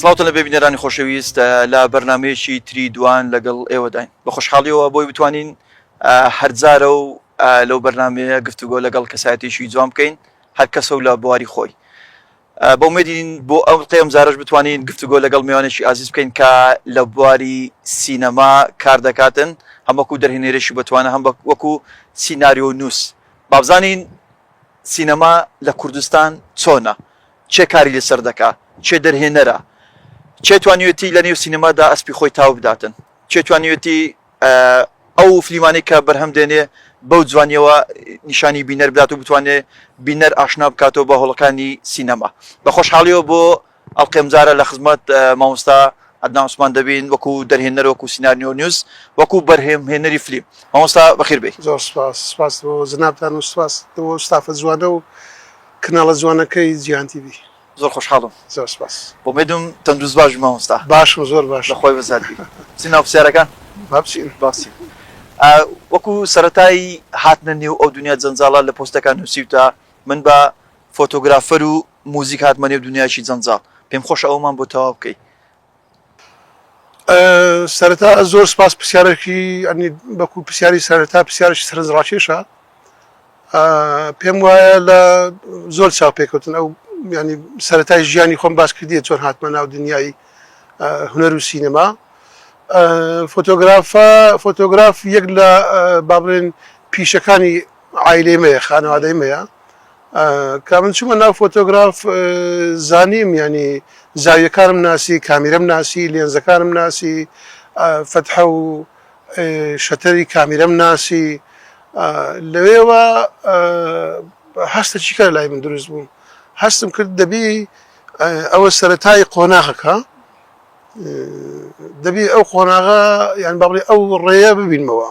سڵاوتان لەبێ بینەرانی خۆشەویست لە بەرنامەیەکی تری دوان لەگەڵ ئێوەداین بە خۆشحاڵیەوە بۆی بتوانین هەرجارە و لەو بەرنمەیە گفتوگۆ لەگەڵ کەسایەتیشی جوان بکەین هەر کەسە و لە بواری خۆی بۆ مێدین بۆ ئەو قێم زارش بتوانین گفتوگۆ لەگەڵ میوانێکی ئازیز بکەین کە لە بواری سینەما کار دەکاتن هەموەکو دەرهێنێرەشی بتوانە هەم وەکو سینناریۆ نووس بابزانین سینەما لە کوردستان چۆنە کێ کاری لەسەر دەکا؟ کێ دەرهێنەرە؟ کێ توانیوێتی لە نێو سینەمادا ئەسپی خۆی تاو بداتن؟ کێ توانیوێتی ئەو فلیمانەی کە بەرهەم دێنێ بەو جوانییەوە نیشانی بینەر بدات و بتوانێ بینەر ئاشنا بکاتەوە بە هۆڵەکانی سینەما؟ بە خۆشحاڵیەوە بۆ ئەڵقەی ئەمجارە لە خزمەت مامۆستا عەدنان عوسمان دەبین وەکو دەرهێنەر وەکو سینارنیۆنووس وەکو بەرهێمهێنەری فلیم. مامۆستا بەخێر بێی. زۆر سوپاس. سوپاس بۆ جەنابتان و سوپاس بۆ ئەو ستافە جوانە و کناڵە جوانەکەی جیهان تیڤی. زۆر خۆشحاڵم. زۆر سپاس. ئومێدم تەندروست باش بی مامۆستا. باشم زۆر باشم. لە خۆی بەزات بی. چین ناو پرسیارەکان؟ با بچین. با بچین. وەکو سەرەتای هاتنە نێو ئەو دونیا جەنجاڵە لە پۆستەکان نوسیوتە من بە فۆتۆگرافەر و موزیک هاتمە نێو دونیایەکی جەنجاڵ. پێم خۆشە ئەوەمان بۆ تەواو بکەی. سەرەتا زۆر سپاس پرسیارێکی ئەنی بەکو پرسیاری سەرەتا پرسیارێکی سەرنج ڕاکێشە پێم وایە لە زۆر چاو پێکوتن ئەو ینی سەرەتای ژیانی خۆم باس کردی چۆن هاتمە ناو دنیای هوەر و سینەما فۆتۆگرافە فۆتۆگراف یەک لە بابرێن پیشەکانی عایلەی مەیە خانەوادەی مەیە کامن چوومە ناو فۆتۆگراف زانیم ینی زاویەکانم ناسی کامیرم ناسی لێنزەکانم ناسی فتحە و شەتەری کامیرم ناسی لەوێوە هەستە چیکار لای من دروست بوو هەستم کرد دەبی ئەوە سەتای قۆناغەکە دەبی ئەو قۆناغە یان بەڵێ ئەو ڕێە ببینمەوە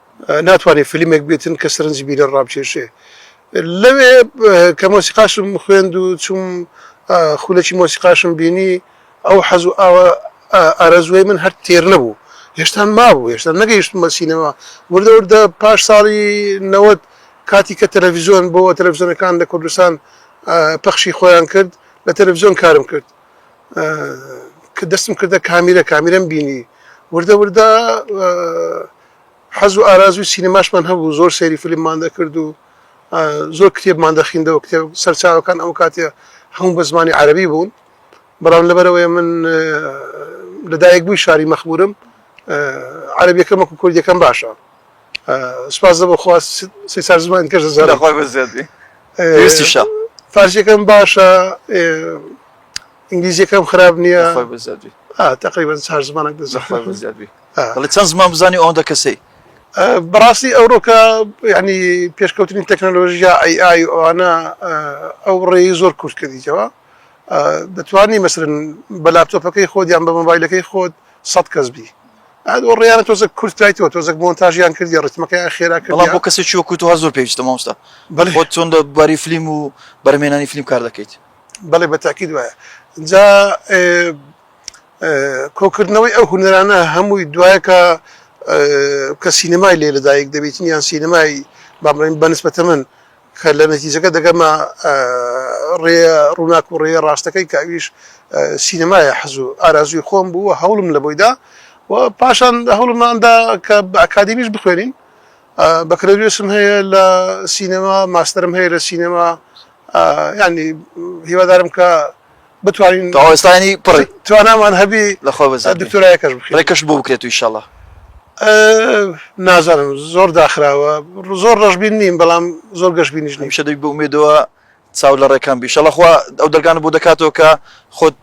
ناتوانێ فلیمێک بێتن کە سەرنجی بینەر ڕابکێشێ. لەوێ کە مۆسیقاشم خوێند و چووم خولەکی مۆسیقاشم بینی، ئەو حەز و ئارەزووەی من هەر تێر نەبوو. هێشتان مابوو، هێشتا نەگەیشتمە سینەما. وردە وردە پاش ساڵی نەوەد کاتی کە تەلەفیزۆن بۆوە، تەلەفیزۆنەکان لە کوردستان پەخشی خۆیان کرد، لە تەلەفیزۆن کارم کرد. کە دەستم کردە کامیرە، کامیرەم بینی. وردە وردە حەز و ئارازووی سینەماشمان هەبوو، زۆر سەیری فیلممان دەکرد و زۆر کتێبمان دەخیندەوە، کتێب سەرچاوەکان ئەو کاتێ هەموو بە زمانی عەرەبی بوون، بەڵام لەبەرئەوەی من لە دایکبووی شاری مەخموورم، عەرەبییەکەم وەکوو کوردییەکەم باشە. سوپاس لە بەخوا سێ چار زمانی دیکەش دەزانم. لەخوای بە زیاد بی. پێویستیشە. فارسییەکەم باشە، ئینگلیزییەکەم خراپ نییە. لەخوای بە زیاد بی. تقریبا چار زمانە دەڵی چەند زمان بزانانی ئەوەندە کەسەی بەڕاستی ئەوڕۆکە ینی پێشکەوتنی تەکنەلۆژیا ئەی ئای ئەوانە ئەو ڕێی زۆر کورت کردیتەوە دەتوانی مەسرن بە لاپتۆپەکەی خۆت یان بە مۆبایلەکەی خۆت سە کەس بی ئەو ڕیانە تۆزە کورتایتەوە تۆزەک مۆنتاژیان کردی ڕتمەکە خێرا کرد بۆ کەسی چوە کووت هەر زۆر پێویستە مامۆستا بەڵێ چۆن لە باری فلیم و بەرمێنانی فلیم کار دەکەیت بەڵێ بە تاکید وایە جا کۆکردنەوەی ئەو هونەرانە هەمووی دوایەکە کە سینەمای لێ لەدایک دەبێتین یان سینەمای بامڕین بەنسبەتە من کە لە نەتیجەکە دەگەمە ڕێ ڕووناک و ڕێ ڕاستەکەی کە ئەویش سینەمایە حەزوو ئارازوی خۆم بوو هەوڵم لە بۆیدا و پاشان هەوڵماندا کە بە ئەکادمیش بخوێنین بەکرەوێسم هەیە لە سینەما ماستەرم هەیە لە سینەما یانی هیوادارم کە بتوانین تەواو ئێستا یانی پڕی توانامان هەبی لە خۆ بەزەی دکتۆرایەکەش بکەین ڕێکەش بۆ بکرێت و ئیشەڵا نازانم زۆر داخراوە زۆر ڕەشبین نیم بەڵام زۆر گەشبینیش نیشە دەی بۆ مێدەوە چاو لە ڕێکان بیشەڵە خوا ئەو دەرگانە بۆ دەکاتەوە کە خۆت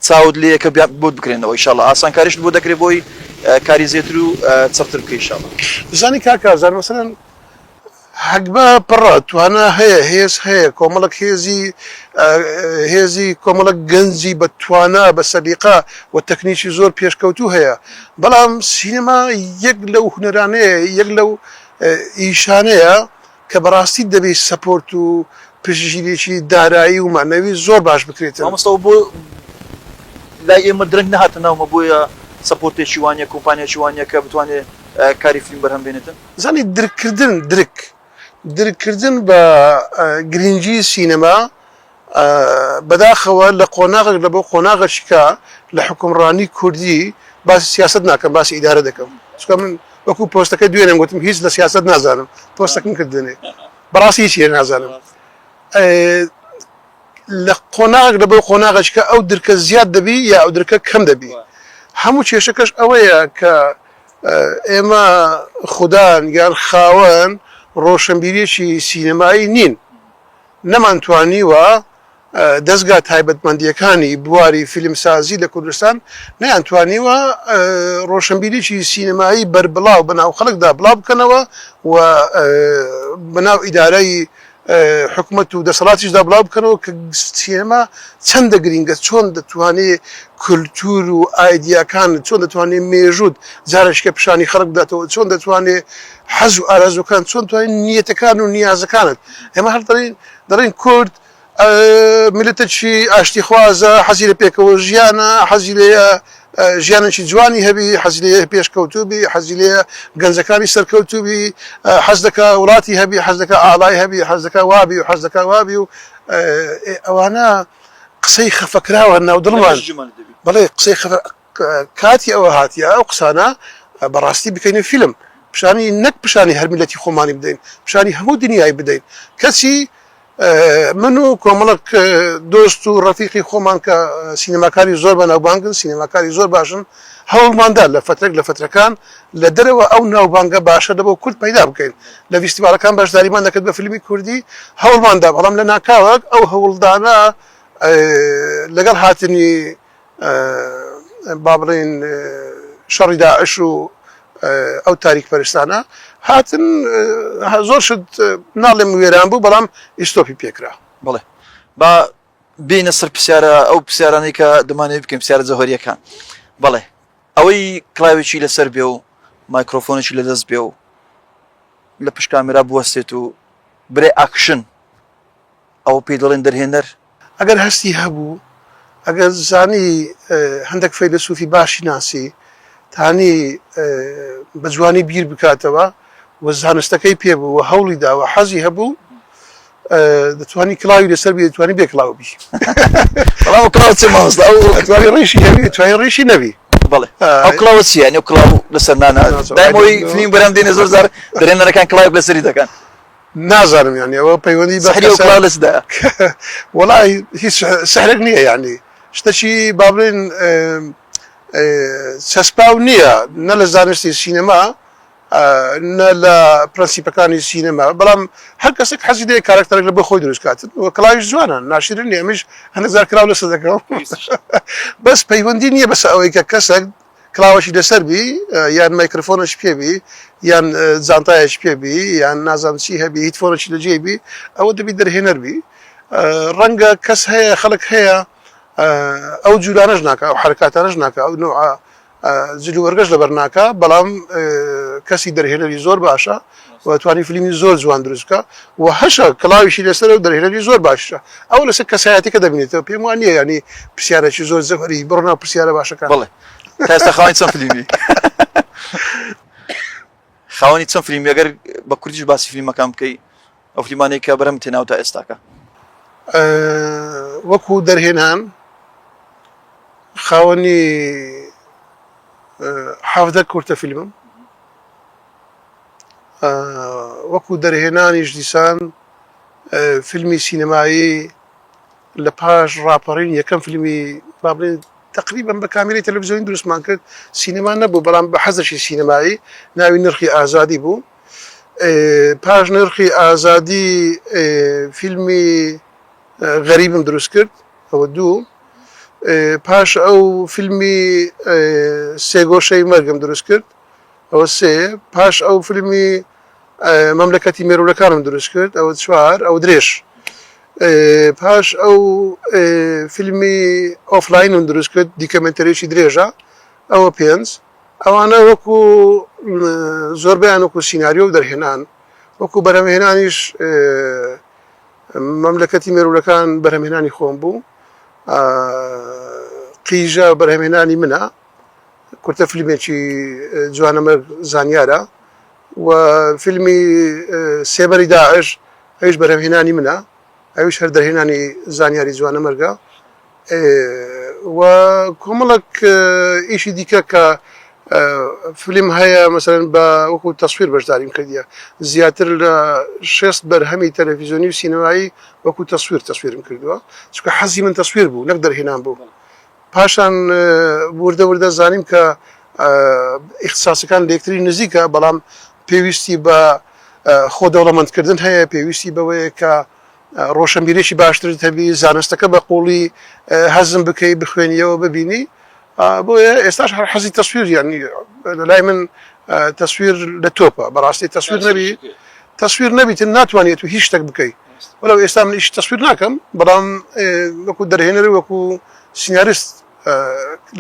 چاوت لێ یەکە بیات بۆت بکرێنەوە ئیشاڵا ئاسانکاریشت بۆ دەکرێ بۆی کاری زێتر و چڕتر بکەی ئیشاڵا. دەزانی کاک ئازار مەسەلەن هەگبە پڕە توانا هەیە هێز هەیە کۆمەڵک هێزی هێزی کۆمەڵک گەنجی بە توانا بە سەلیقە و تەکنیکی زۆر پێشکەوتوو هەیە بەڵام سینەما یەک لەو هونەرانەیە یەک لەو ئیشانەیە کە بەڕاستی دەبێت سەپۆرت و پشتگیریی دارایی و مەعنەوی زۆر باش بکرێتن. مامۆستا ئەوە بۆ لای ئێمە درەنگ نەهاتە ناومە بۆیە سەپۆرتێکی وا نیە کۆمپانیاکی وا نیە کە بتوانێ کاری فلیم بەرهەم بێنێتن؟ زانی درککردن درک درککردن بە گرنگی سینەما. بەداخەوە لە قۆناغێک لە بۆ قۆناغەشیکا لە حوکمڕانی کوردی باسی سیاسەت ناکەم باسی ئیدارە دەکەم چکە من وەکو پۆستەکە دوێنێم گوتم هیچ لە سیاست نازانم پۆستەکەم کرد دوێنێ بەڕاستی هیچ لێ نازانم لە قۆناغێک لە بۆ قۆناغەشکە ئەو درکە زیاد دەبی یا ئەو درکە کەم دەبی هەموو کێشەکەش ئەوەیە کە ئێمە خوددان یان خاوەن ڕۆشنبیرێکی سینەمایی نین نەمانتوانیوە دەزگا تایبەتمەندییەکانی بواری فیلمسازی لە کوردستان نەیانتوانیوە ڕۆشنبیریی سینەمایی بەربڵاو بە ناو خەڵکدا بڵاو بکەنەوە و بە ناو ئیدارەی حکومەت و دەسەڵاتیشدا بڵاو بکەنەوە کە سینەما چەندە گرینگە، چۆن دەتوانێ کولتوور و ئایدیاکان، چۆن دەتوانێ مێژووت جارێکیکە پیشانی خەڵک بداتەوە، چۆن دەتوانێ حەز و ئارەزووەکان چۆن توانین نیەتەکان و نیازەکانت ئێمە هەر دەڵین دەڵین کورد میلەتێکی ئاشتی خوازە حەزی لە پێکەوە ژیانە حەزی لێ ژیانێکی جوانی هەبی حەزی لێ پێشکەوتوبی حەزی لێ گەنجەکانی سەرکەوتوبی حەز دەکا وڵاتی هەبی حەز دەکا ئالای هەبی حەز دەکا وابی و حەز دەکا وابی و ئەوانە قسەی خەفەکراوە ناو دڵمان بڵێ قسەی خەفە کاتی ئەوە هاتیە ئەو قسانە بە ڕاستی بکەین و فیلم پیشانی نەک پیشانی هەر میلەتی خۆمانی بدەین پیشانی هەموو دنیای بدەین کەچی من و کۆمەڵک دۆست و ڕەفیقی خۆمان کە سینەماکاری زۆر بەناوبانگن سینەماکاری زۆر باشن هەوڵماندا لە فترەک لە فترەکان لە دەرەوە ئەو ناوبانگە باشە لەبۆ کورد پەیدا بکەین لە ڤیستیڤاڵەکان بەشداریمان دەکرد بە فیلمی کوردی هەوڵماندا بەڵام لە ناکاوەک ئەو هەوڵدانە لەگەڵ هاتنی با بڵێین شەڕی داعش و ئەو تاریک پەرستانە هاتن زۆر شت ناڵێم وێران بوو بەڵام ئیسۆپی پێکرا بڵێ با بینە سەر پرسیارە ئەو پرسیارانەی کە دەمانێت بکەین پرسیارە جەهۆریەکان بڵێ ئەوەی کلااوێکی لەسەر بێ و مایکرۆفۆنێکی لە دەست بێ و لە پشکامرا بوەستێت و برێ ئاکشن ئەوە پێی دەڵێن دەرهێنەر. ئەگەر هەستی هەبوو، ئەگەر زانی هەندەک فەیلەسوفی باشی ناسی، تانی بە جوانی بیر بکاتەوە و زانستەکەی پێ بوو و هەوڵی دا و حەزی هەبوو، دەتوانی کڵاوی لەسەر بی، دەتوانی بێ کڵاو بی. بەڵام ئەو کڵاوە چییە مامۆستا؟ ئەو دەتوانی ڕیشی هەبی، دەتوانی ڕیشی نەبی. بەڵێ. ئەو کڵاوە چییە؟ یانی ئەو کڵاو لەسەر نانە؟ دایم ئەوەی فلیمی بەرهەم دێنێ زۆر جار دەرهێنەرەکان کڵاوێک لەسەری دەکەن. نازانم یانی ئەوە پەیوەندی بە سحری ئەو کەسە کڵاو لە چ دایە؟ وەڵا هیچ سحرێک نییە یانی شتەکی با بڵێین چەسپاو نییە نە لە زانستی سینەما نە لە پرەنسیپەکانی سینەما بەڵام هەر کەسێک حەزی لێ کارەکتەرێک لە بۆ خۆی دروست کات و کڵاویش جوانە ناشرین نییە ئەمیش هەندێک جار کراو لەسەر دەکەم بەس پەیوەندی نییە بەسە ئەوەی کە کەسێک کڵاوەکی لەسەر بی یان مایکرفۆنەش پێ بی یان جانتایەش پێ بی یان نازانم چی هەبی هیتفۆنەکی لە جێی بی ئەوە دەبی دەرهێنەر بی ڕەنگە کەس هەیە خەڵک هەیە ئەو جوولانەش ناکە ئەو حرکاتانەش ناکە ئەو نوع جلوبەرگەش لەبەر ناکە بەڵام کەسی دەرهێنەری زۆر باشە و توانی فلیمی زۆر جوان دروست بکا و هەشە کڵاویشی لەسەرە و دەرهێنەری زۆر باششە ئەوە لەسەر کەسایەتی کە دەبینێتەوە پێم وان نیە یانی پرسیارەکی زۆر زەبەری بڕۆ ناو پرسیارە باشەکان بڵێ تاستا خاوەنی چەند فلیمی خاوەنی چەند فلیمی ئەگەر بە کوردیش باسی فلیمەکان بکەی ئەو فلیمانەی کە بەرەم تێناو تا ئێستاکە وەکو دەرهێنان خاوەنی حەفدە کورتە فیلمم وەکو دەرهێنانیش دیسان فیلمی سینەمایی لە پاش ڕاپەڕین یەکەم فیلمی با بڵێن تقریبا بە کامیری تەلەڤزیۆنی دروستمان کرد سینەما نەبوو بەڵام بە حەزشی سینەمایی ناوی نرخی ئازادی بوو پاش نرخی ئازادی فیلمی غەریبم دروست کرد ئەوە دوو پاش ئەو فیلمی سێگۆشەی مەرگم دروست کرد ئەوە سێ پاش ئەو فلمی مەملەکەتی مێروولەکانم دروست کرد ئەوە چوار ئەو درێژ پاش ئەو فیلمی ئۆفلاینم دروست کرد دیکەمنتەرێکی درێژە ئەوە پێنج ئەوانە وەکو زۆربیان وەکو سینناریۆ و دەرهێنان وەکو بەرەمهێنانیش مەملەکەتی مێرولەکان بەرەمهێنانی خۆم بوو قیژە بەرهمێنانی منە کورتە فیلمێکی جوانەمەرگ زانیارە و فیلمی سێبەری داعش ئەویش بەرهەمهێنانی منە ئەویش هەر دەرهێنانی زانیاری جوانەمەرگە و کۆمەڵک ئیشی دیکە کە فیلم هەیە مەسەرەن بە وەکو تەسویر بەشداریم کردیە زیاتر لە شێست بەرهەمی تەلەڤیزیۆنی و سینەمایی وەکو تەسویر تەسویرم کردووە چکە حەزی من تەسویر بوو نەک دەرهێنان بوو. پاشان وردە وردە زانیم کە ئیختساسەکان لەیەکتری نزیکە، بەڵام پێویستی بە خۆ دەوڵەمەندکردن هەیە، پێویستی بەوەیە کە ڕۆشەنبیریی باشترت هەبی، زانستەکە بە قووڵی هەزم بکەی، بخوێنییەوە، ببینی. بۆیە ئێستاش هەر حەزی تەسویر یانی لەلای من تەسویر لە تۆپە، بەڕاستی تەسویر نەبی، تەسویر نەبیت ناتوانیت هیچ شتێک بکەیت. وەلەو ئێستا من ئیشی تەسویر ناکەم بەڵام وەکو دەرهێنەر و وەکو سیناریست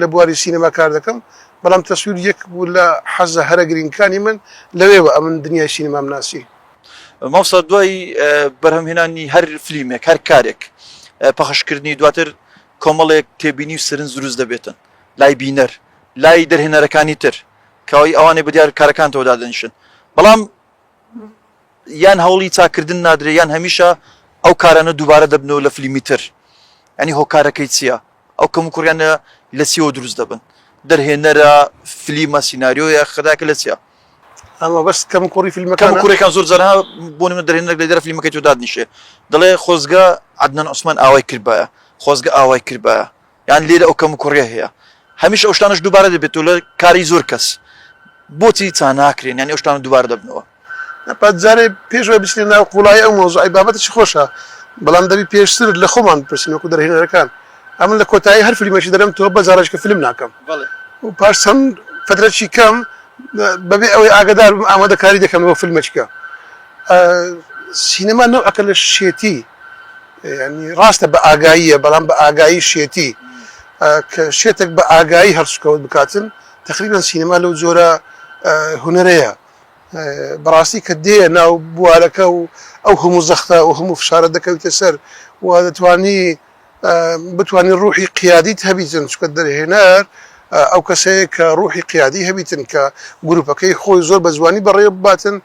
لە بواری سینەما کار دەکەم بەڵام تەسویر یەک بوو لە حەزە هەرە گرینگەکانی من لەوێوە ئەمن دنیای سینەمام ناسی. مامۆستا دوای بەرهەم هێنانی هەر فلیمێک هەر کارێک پەخش کردنی دواتر کۆمەڵێک تێبینی و سرنج دروست دەبێتن لای بینەر لای دەرهێنەرەکانی تر کەوەی ئەوانەی بەدیار کارەکانتەوە دادەنیشن بەڵام یان هەوڵی چاککردن نادرێ یان هەمیشە ئەو کارانە دووبارە دەبنەوە لە فلیمی تر ینی هۆکارەکەی چییە ئەو کەم و کوڕیانە لە چیەوە دروست دەبن دەرهێنەرە فلیمە سینناریۆیە خراکە لە چیە ئەوە بەس کەم کوڕی فیلمەکان کوڕێکان زۆر جارها بۆ نمە دەرێنەر لە دەر فیلمەکەی تو دادنیشێ دەڵێ خۆزگە عدنان عوسمان ئاوای کردبایە خۆزگە ئاوای کردبایە یان لێرە ئەو کەموکوڕیە هەیە هەمیشە ئەو شتانەش دووبارە دەبێتەوە لە کاری زۆر کەس بۆچی چا ناکرێن یانی ئەو شتانە دووبارە دەبنەوە. پات جارێ پێش ئەوەی بچینە ناو قووڵایی ئەو مەوزوعەی بابەتێکی خۆشە بەڵام دەبی پێشتر لە خۆمان بپرسین وەکوو دەرهێنەرەکان ئەمن لە کۆتایی هەر فلیمێکی دەرم تۆ بە جاڕێژکە فلم ناکەم و پاش چەند فترەکی کەم بەبێ ئەوەی ئاگەدار بم ئامادە کاری دەکەم بۆ فلمێکیکە سینەما نەوعەکە لە شێتی یانی ڕاستە بە ئاگاییە بەڵام بە ئاگایی شێتی کە شێتێک بە ئاگایی هەڵسوکەوت بکاتن تقریبان سینەما لەو جۆرە هوەرەیە بەڕاستی کە دێ ناو بوارەکە و ئەو هەموو زەختە و هەموو فشارە دەکەویتە سەر و دەتوانی بتانی ڕوحی قیادیت هەبیتن چکە دەرهێنەر ئەو کەسەیە کە ڕوحی قیادی هەبیتن کە گروپەکەی خۆی زۆر بە جوانی بەڕێ بباتن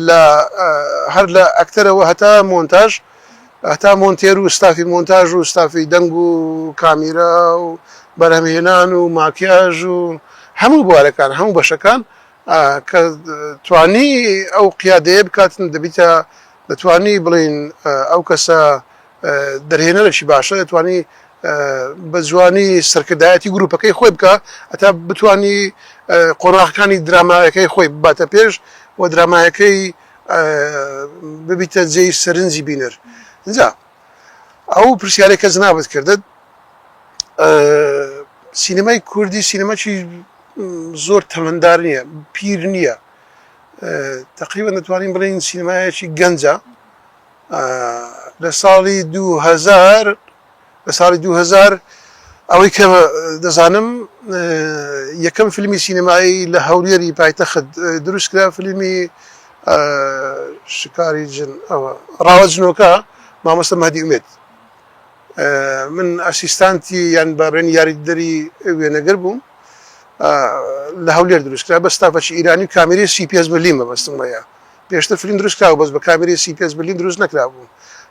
لە هەر لە ئەکتەرەوە هەتا مۆنتاژ هەتا مۆنتێر و ستافی مۆنتاژ و ستافی دەنگ و کامیرا و بەرهەمهێنان و ماکیاژ و هەموو بوارەکان هەموو بەشەکان کە توانی ئەو قیادەیە بکاتن دەبیتە دەتوانی بڵین ئەو کەسە دەرهێنەرەی باشە دەتوانی بە جوانی سەرکردایەتی گروپەکەی خۆی بکە ئەتا بتانی قۆناغەکانی درامایەکەی خۆی باتە پێش و درامایەکەی ببیتە جێی سەرنجی بینەر ئینجا ئەو پرسیارێک کە جنابت کردت سینەمای کوردی سینەماچی زۆر تەمەندار نییە پیر نییە تقریبا دەتوانین بڵین سینەمایەکی گەنجە لە ساڵی دوهزار لە ساڵی دوو هەزار ئەوەی کە دەزانم یەکەم فیلمی سینەمایی لە هەولێری پایتەخت دروستکرا فیلمی شکاری جن ئەوە ڕاوە جنۆکە مامۆستا مەدی ئومێت من ئەسیستانتی یان بابێن یاریدەری وێنەگەر بووم لە هەولێر دروستکرا بە ستافەچی ئیرانی و کامیری سیپیس بەلیمە بەستم وەیە پێشتر فلیم دروست کرابوو بەس بە کامێرەی سی پێنج ملیم دروست نەکرابوو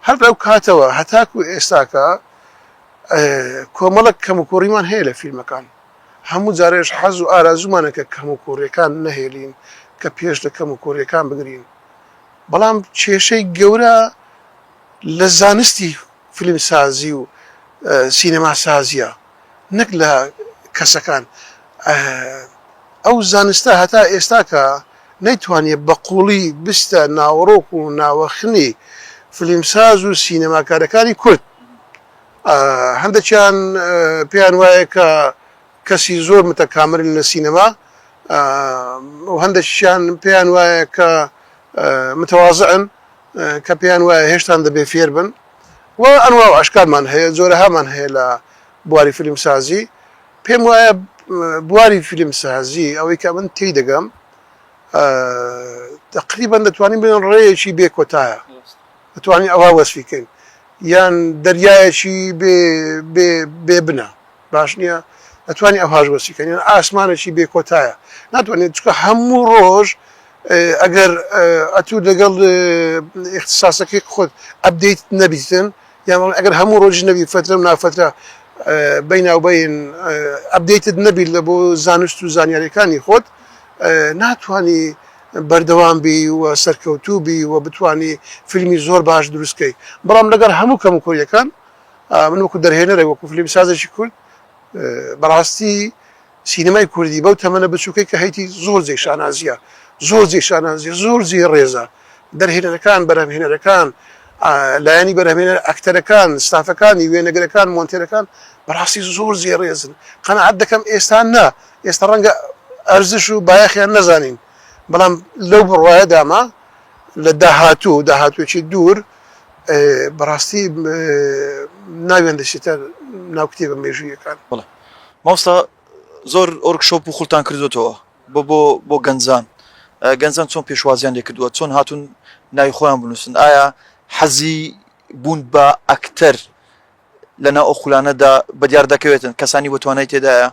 هەر لەو کاتەوە هەتاکو ئێستاکە کۆمەڵک کەموکوڕیمان هەیە لە فیلمەکان هەموو جارێش حەز و ئارازومانە کە کەموکوڕیەکان نەهێلین کە پێش لە کەموکوڕیەکان بگرین بەڵام کێشەی گەورە لە زانستی فیلمسازی و سینەماسازیە. نەک لە کەسەکان ئەو زانستە هەتا ئێستاکە نەیتوانیە بە قوڵی بستە ناوەڕۆک و ناوەخنی فلیمساز و سینەماکارەکانی کورد هەندەکیان پێیان وایە کە کەسی زۆر متەکامرن لە سینەما هەندەکیان پێیان وایە کە متەوازعن کە پێیان وایە هێشتان دەبێ فێر بن و ئەنواع و ئەشکالمان هەیە جۆرەهامان هەیە لە بواری فیلمسازی پێم وایە بواری فیلمسازی ئەوەی کە من تێی دەگەم تقریبا دەتوانین بڵێن ڕێیەکی بێ کۆتایە دەتوانین ئەوە وەسفیکەین یان دەریایەکی بێ بنە باش نیە ئەتوانی ئەوهاش وەسی کەن یان ئاسمانەکی بێ کۆتایە ناتوانێت چکە هەموو ڕۆژ ئەگەر ئەتوو دەگەڵ ئیختصاسەکەی خۆت ئەبدەیت نەبیتن یامان ئەگەر هەموو ڕۆژ نەبی فترە و نافترە بەیناوبین ئەبدەیتت نەبیت لە بۆ زانست و زانیاریەکانی خۆت ناتوانی بەردەوام بی و سەرکەوتوو بی و بتانی فیلمی زۆر باش دروستکەی بەڵام لەگەر هەموو کەم و کۆریەکان من وەکو دەرهێنەرێک وەکو فلیمسازێکی کورد بەڕاستی سینەمای کوردی بەو تەمەە بچووکەی کە هەیتی زۆر جێ شانازیە زۆر جێ شانازیە زۆر جێ ڕێزە دەرهێنەرەکان بەرهەمهێنەرەکان لایەنی بەرهمێنەر ئەکتەرەکان ستافەکانی وێنەگرەکان مۆنتێرەکان بەڕاستی زۆر زێ ڕێزن قەنەعات دەکەم ئێستا نا ئێستا ڕەنگە ئەرزش و بایەخیان نەزانین بەڵام لەو بڕواایە داما لە داهاتوو داهاتوێکی دوور بەڕاستی ناویان دەچێتە ناو کتێبە مێژوویەکان. بەڵێ مامۆستا زۆر ۆرک شۆپ و خولتان کردۆتەوە بۆ بۆ بۆ گەنجان گەنجان چۆن پێشوازیان لێ کردووە چۆن هاتوون ناوی خۆیان بنووسن ئایا حەزی بوون بە ئەکتەر لەناو ئەو خولانەدا بەدیار دەکەوێتن کەسانی بەتوانای تێدایە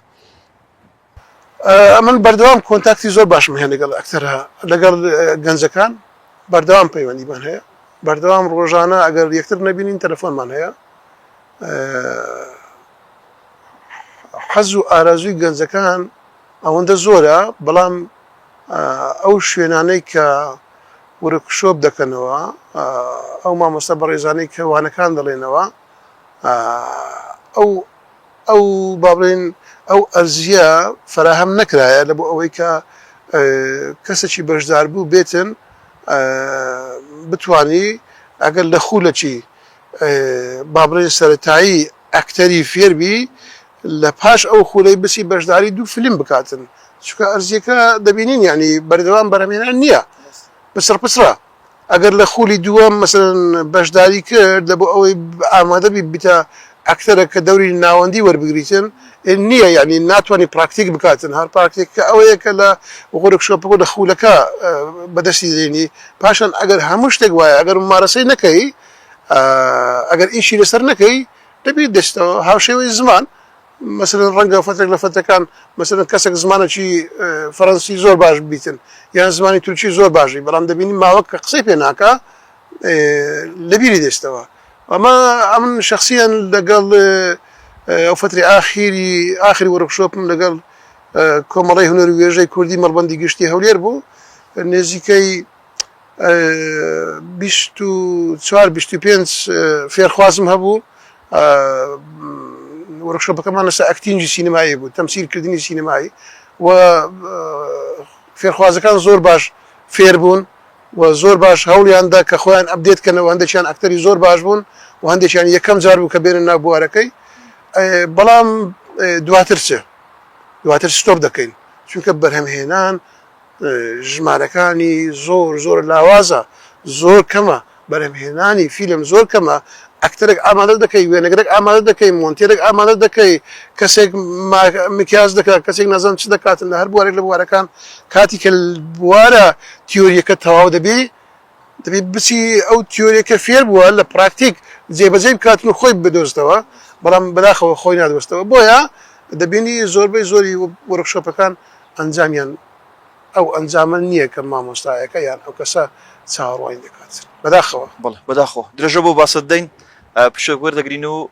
من بەردەوام کۆنتاکتی زۆر باشم هەیە لەگەڵ ئەکتەرە لەگەڵ گەنجەکان بەردەوام پەیوەندیمان هەیە بەردەوام ڕۆژانە ئەگەر یەکتر نەبینین تەلەفۆنمان هەیە حەز و ئارازوی گەنجەکان ئەوەندە زۆرە بەڵام ئەو شوێنانەی کە ورکشۆپ دەکەنەوە ئەو مامۆستا بەڕێزانەی کەوانەکان دەڵێنەوە ئەو ئەو با بڵێین ئەو ئەرزییە فەراهەم نەکرایە لە بۆ ئەوەی کە کەسێکی بەشداربوو بێتن بتوانی ئەگەر لە خولەکی با بڵێین سەرەتایی ئەکتەری فێر بی لە پاش ئەو خولەی بچی بەشداری دوو فیلم بکاتن چونکە ئەرزییەکە دەبینین یانی بەردەوام بەرهەمهێنان نییە پچڕپچڕە. ئەگەر لە خولی دووەم مەسەلەن بەشداری کرد لە بۆ ئەوەی ئامادە بی بیتە ئەکتەرە کە دەوری ناوەندی وەربگریتن نییە یانی ناتوانانی پراکتیک بکاتن هەر پراکتیک کە ئەوەیە کە لە غورک شۆپگۆ لە خولەکە بەدەستی دێنی پاشان ئەگەر هەموو شتێک وایە ئەگەر ممارەسەی نەکەی ئەگەر ئیشی لەسەر نەکەی دەبی دەستەوە هاوشێوەی زمان مەسەلەن ڕەنگە فترەک لە فترەکان مەسەلەن کەسەک زمانەکی فەرەنسی زۆر باش بیتن یان زمانی تورکی زۆر باش بی بەڵام دەبینی ماوەک کە قسەی پێ ناکا لەبیری دەچتەوە ئەمە ئەمن شخصیان لەگەڵ ئەو فتری ئاخیری ئاخری وەرکشۆپم لەگەڵ کۆمەڵی هونەر وێژەی کوردی مەڵبندی گشتی هەولێر بوو نێزیکەی بیست و چوار بیست و پێنج فێرخوازم هەبوو وۆرکشۆپەکەمان لەسەر ئەکتینگی سینەمایی بوو، تەمسیل کردنی سینەمایی و فێرخوازەکان زۆر باش فێر بوون و زۆر باش هەوڵیان دا کە خۆیان ئەپدێت کەنەوە، هەندێکیان ئەکتەری زۆر باش بوون و هەندێکیان یەکەم جار بوو کە بێنە ناو بوارەکەی بەڵام دواتر چ؟ دواتر ستۆپ دەکەین چونکە بەرهەمهێنان ژمارەکانی زۆر زۆر لاوازە زۆر کەمە بەرهەمهێنانی فیلم زۆر کەمە ئەکتەرێک ئامادە دەکەی وێنەگرێک ئامادە دەکەی مۆنتێرێک ئامادە دەکەی کەسێک مکیاج دەکات کەسێک نازانم چ دەکاتن لە هەر بوارێک لە بوارەکان کاتی کە بوارە تیۆریەکە تەواو دەبی دەبێت بچی ئەو تیۆریە کە فێر بووە لە پراکتیک جێبەجێی بکات و خۆی بدۆزتەوە، بەڵام بەداخەوە خۆی نادۆزتەوە، بۆیە دەبینی زۆربەی زۆری وۆرکشۆپەکان ئەنجامیان ئەو ئەنجامە نییە کە مامۆستایەکە یان ئەو کەسە چاوەڕوانی دەکات، بەداخەوە. بەڵێ بەداخەوە. درێژە بۆ باسەت دەین، پشک وەردەگرین و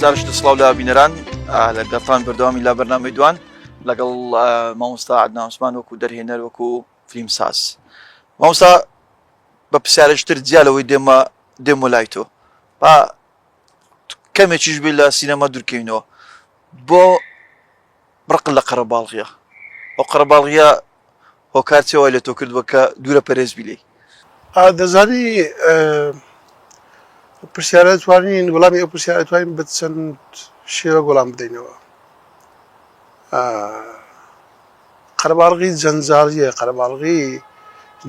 جارش لە سڵاو لە بینەران لە گەڵتان بەردەوامی لا بەرنامەی دوان لەگەڵ مامۆستا عدناوسمان وەکو دەرهێنەر وەکو فیلم ساز مامۆستا بە پرسیارشتر جیا لەوەی دێمە دێمە لای تۆ با کەمێکیش بێ لە سینەما دوورکەینەوە بۆ بڕقن لە قەرەباڵغیە ئەو قەرەباڵغیە هۆکار چیە وای لە تۆ کردوە کە دوورە پەرێز بی لێی. ئا دەزانی پرسیارە توانین وەڵامی ئەو پرسیارە توانین بە چەند شێوە وەڵام بدەینەوە ئا قەرەباڵغی جەنجاڵیە قەرەباڵغی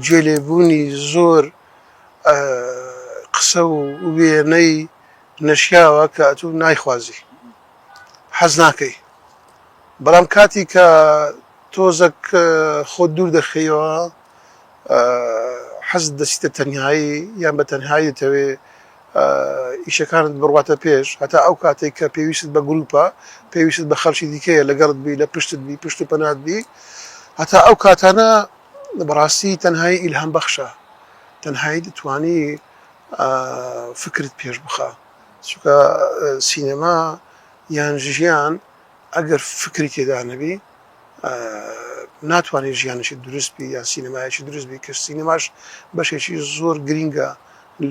گوێ لێبوونی زۆر ئا قسە و وێنەی نەشیاوە کە ئەتوو نایخوازی حەزناکەی بەڵام کاتی کە تۆزەک خۆت دوور دەخەیەوە حەزت دەسیتە تەنهایی یان بە تەنهایی دەتەوێ ئیشەکانت بڕواتە پێش هەتا ئەو کاتێک کە پێویست بە گروپە پێویست بە خەڵکی دیکەیە لەگەڵت بی لە پشتت بی پشت و پەنات بی هەتا ئەو کاتانە بەڕاستی تەنهایی ئیلهام بەخشە تەنهایی دەتوانی فکرت پێش بخە چونکە سینەما یان ژیان ئەگەر فکری تێدا نەبی ناتوانێت ژیانێکی دروست بی یان سینەمایەکی دروست بی کە سینەماش بەشێکی زۆر گرینگە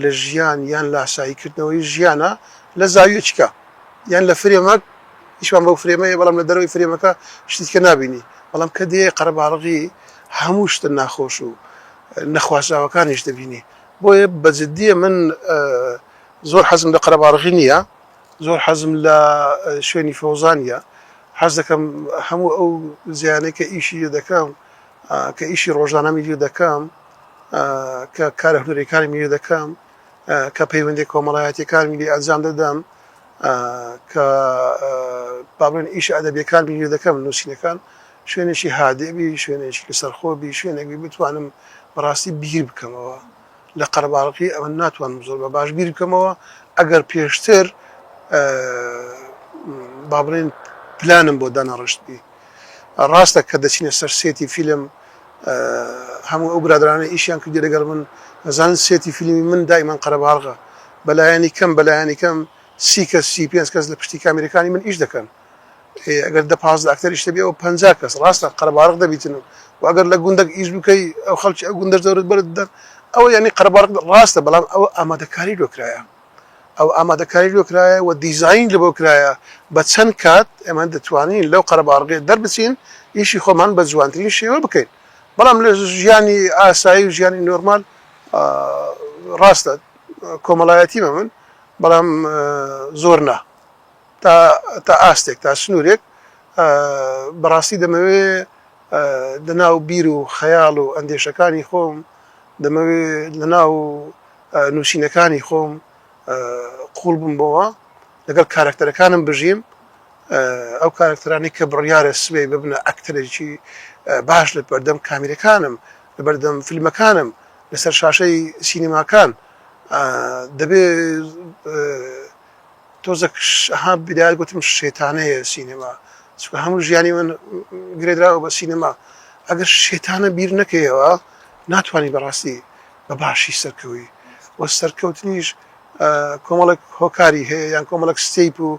لە ژیان یان لاسایی کردنەوەی ژیانە لە زاویەکیکە یان لە فرێمەک ئیشمان بەو فرێمە هەیە بەڵام لە دەرەوەی فرێمەکە شتی دیکە نابینی بەڵام کە دێی قەرەباڵغی هەموو شتە ناخۆش و نەخوازراوەکانیش دەبینی بۆیە بە جدیە من زۆر حەزم لە قەرەباڵغی نییە زۆر حەزم لە شوێنی فەوزانییە حەز دەکەم هەموو ئەو زیانەی کە ئیشی لێ دەکەم کە ئیشی ڕۆژانەمی لێ دەکەم کە کارە هونەرەکانمی لێ دەکەم کە پەیوەندی کۆمەڵایەتەکانمی لێ ئەنجام دەدەم کە بابن ئیش ئەدەبیەکانمی لێ دەکەم نووسینەکان شوێنێکی هادێبی شوێنێکی لەسەرخۆبی شوێنێکی بتوانم بەڕاستی بیر بکەمەوە لە قەرەباڵغی ئەمن ناتوانم زۆر بە باش بیر بکەمەوە ئەگەر پێشتر با بڵێن پلانم بۆ دانەڕشتبی ڕاستە کە دەچینە سەر سێتی فیلم هەموو ئەو برادرانە ئیشیان کردی لەگەڵ من نەزان سێتی فیلمی من دایمان قەرەباڵغە بەلایەنی کەم بەلایەنی کەم سی کەس سی پێنج کەس لە پشتی کامیرەکانی من ئیش دەکەن ئێ ئەگەر دە پازدە ئەکتەریش هەبی ئەوە پەنجا کەس ڕاستە قەرەباڵغ دەبیتن و و ئەگەر لە گوندەک ئیش بکەی ئەو خەڵکی ئەو گوندەش دەورت بەرت بدەن ئەوە یانی قەرەباڵغ ڕاستە بەڵام ئەوە ئامادەکاری لۆ کرایە ئەو ئامادەکاری لۆ کرایە و دیزاین لەبۆ کرایە بە چەند کات ئێمە دەتوانین لەو قەرەباڵغێ دەربچین ئیشی خۆمان بە جوانترین شێوە بکەین بەڵام لە ژیانی ئاسایی و ژیانی نۆرمال ڕاستە کۆمەڵایەتیمە من بەڵام زۆر نا تا تا ئاستێک تا سنوورێک بەڕاستی دەمەوێ لەناو بیر و خەیاڵ و ئەندێشەکانی خۆم دەمەوێ لەناو نووسینەکانی خۆم قوڵ بم بۆەوە لەگەڵ کارکتەرەکانم بژیم ئەو کارکتەرانی کە بڕیارە سبەی ببنە ئەکتەرێکی باش لە بەردەم کامیرەکانم لە بەردەم فیلمەکانم لەسەر شاشەی سینەماکان دەبێ تۆزەک ها بدایەت گوتم شێتانەیە سینەما چونکە هەموو ژیانی من گرێدراوە بە سینەما ئەگەر شێتانە بیر نەکەیەوە ناتوانانی بەڕاستی بە باشی سەرکەوی و سەرکەوتنیش کۆمەڵک هۆکاری هەیە یان کۆمەڵک ستیپ و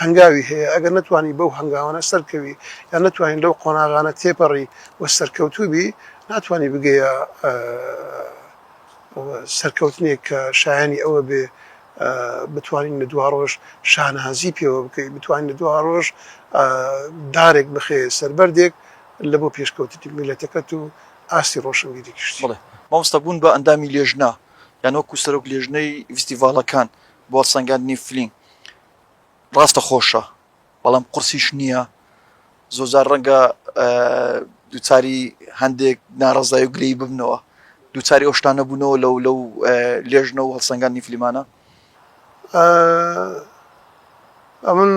هەنگاوی هەیە ئەگەر نتوانی بەو هەنگاوانە سەرکەوی یان نتوانین لەو قۆناغانە تێپەڕی و سەرکەوتوبی ناتوانانی بگەیە سەرکەوتنێک کە شایانی ئەوە بێ بتوانین لە دواڕۆژ شانازی پێوە بکەین، بتوانین لە دواڕۆژ دارێک بخەیە سەر بەردێک لە بۆ پێشکەوتنی میللەتەکەت و ئاستی ڕۆشنبیری گشتی. بەڵێ مامۆستا بوون بە ئەندامی لێژنە یان وەکو سەرۆک لێژنەی ڤیستیڤاڵەکان بۆ هەڵسەنگاندنی فلیم ڕاستەخۆشە؟ بەڵام قورسیش نییە، زۆرجار ڕەنگە دووچاری هەندێک ناڕەزایی و گلەیی ببنەوە، دووچاری ئەو شتانە بوونەوە لەو لەو لێژنە و هەڵسەنگاندنی فلیمانە؟ ئەمن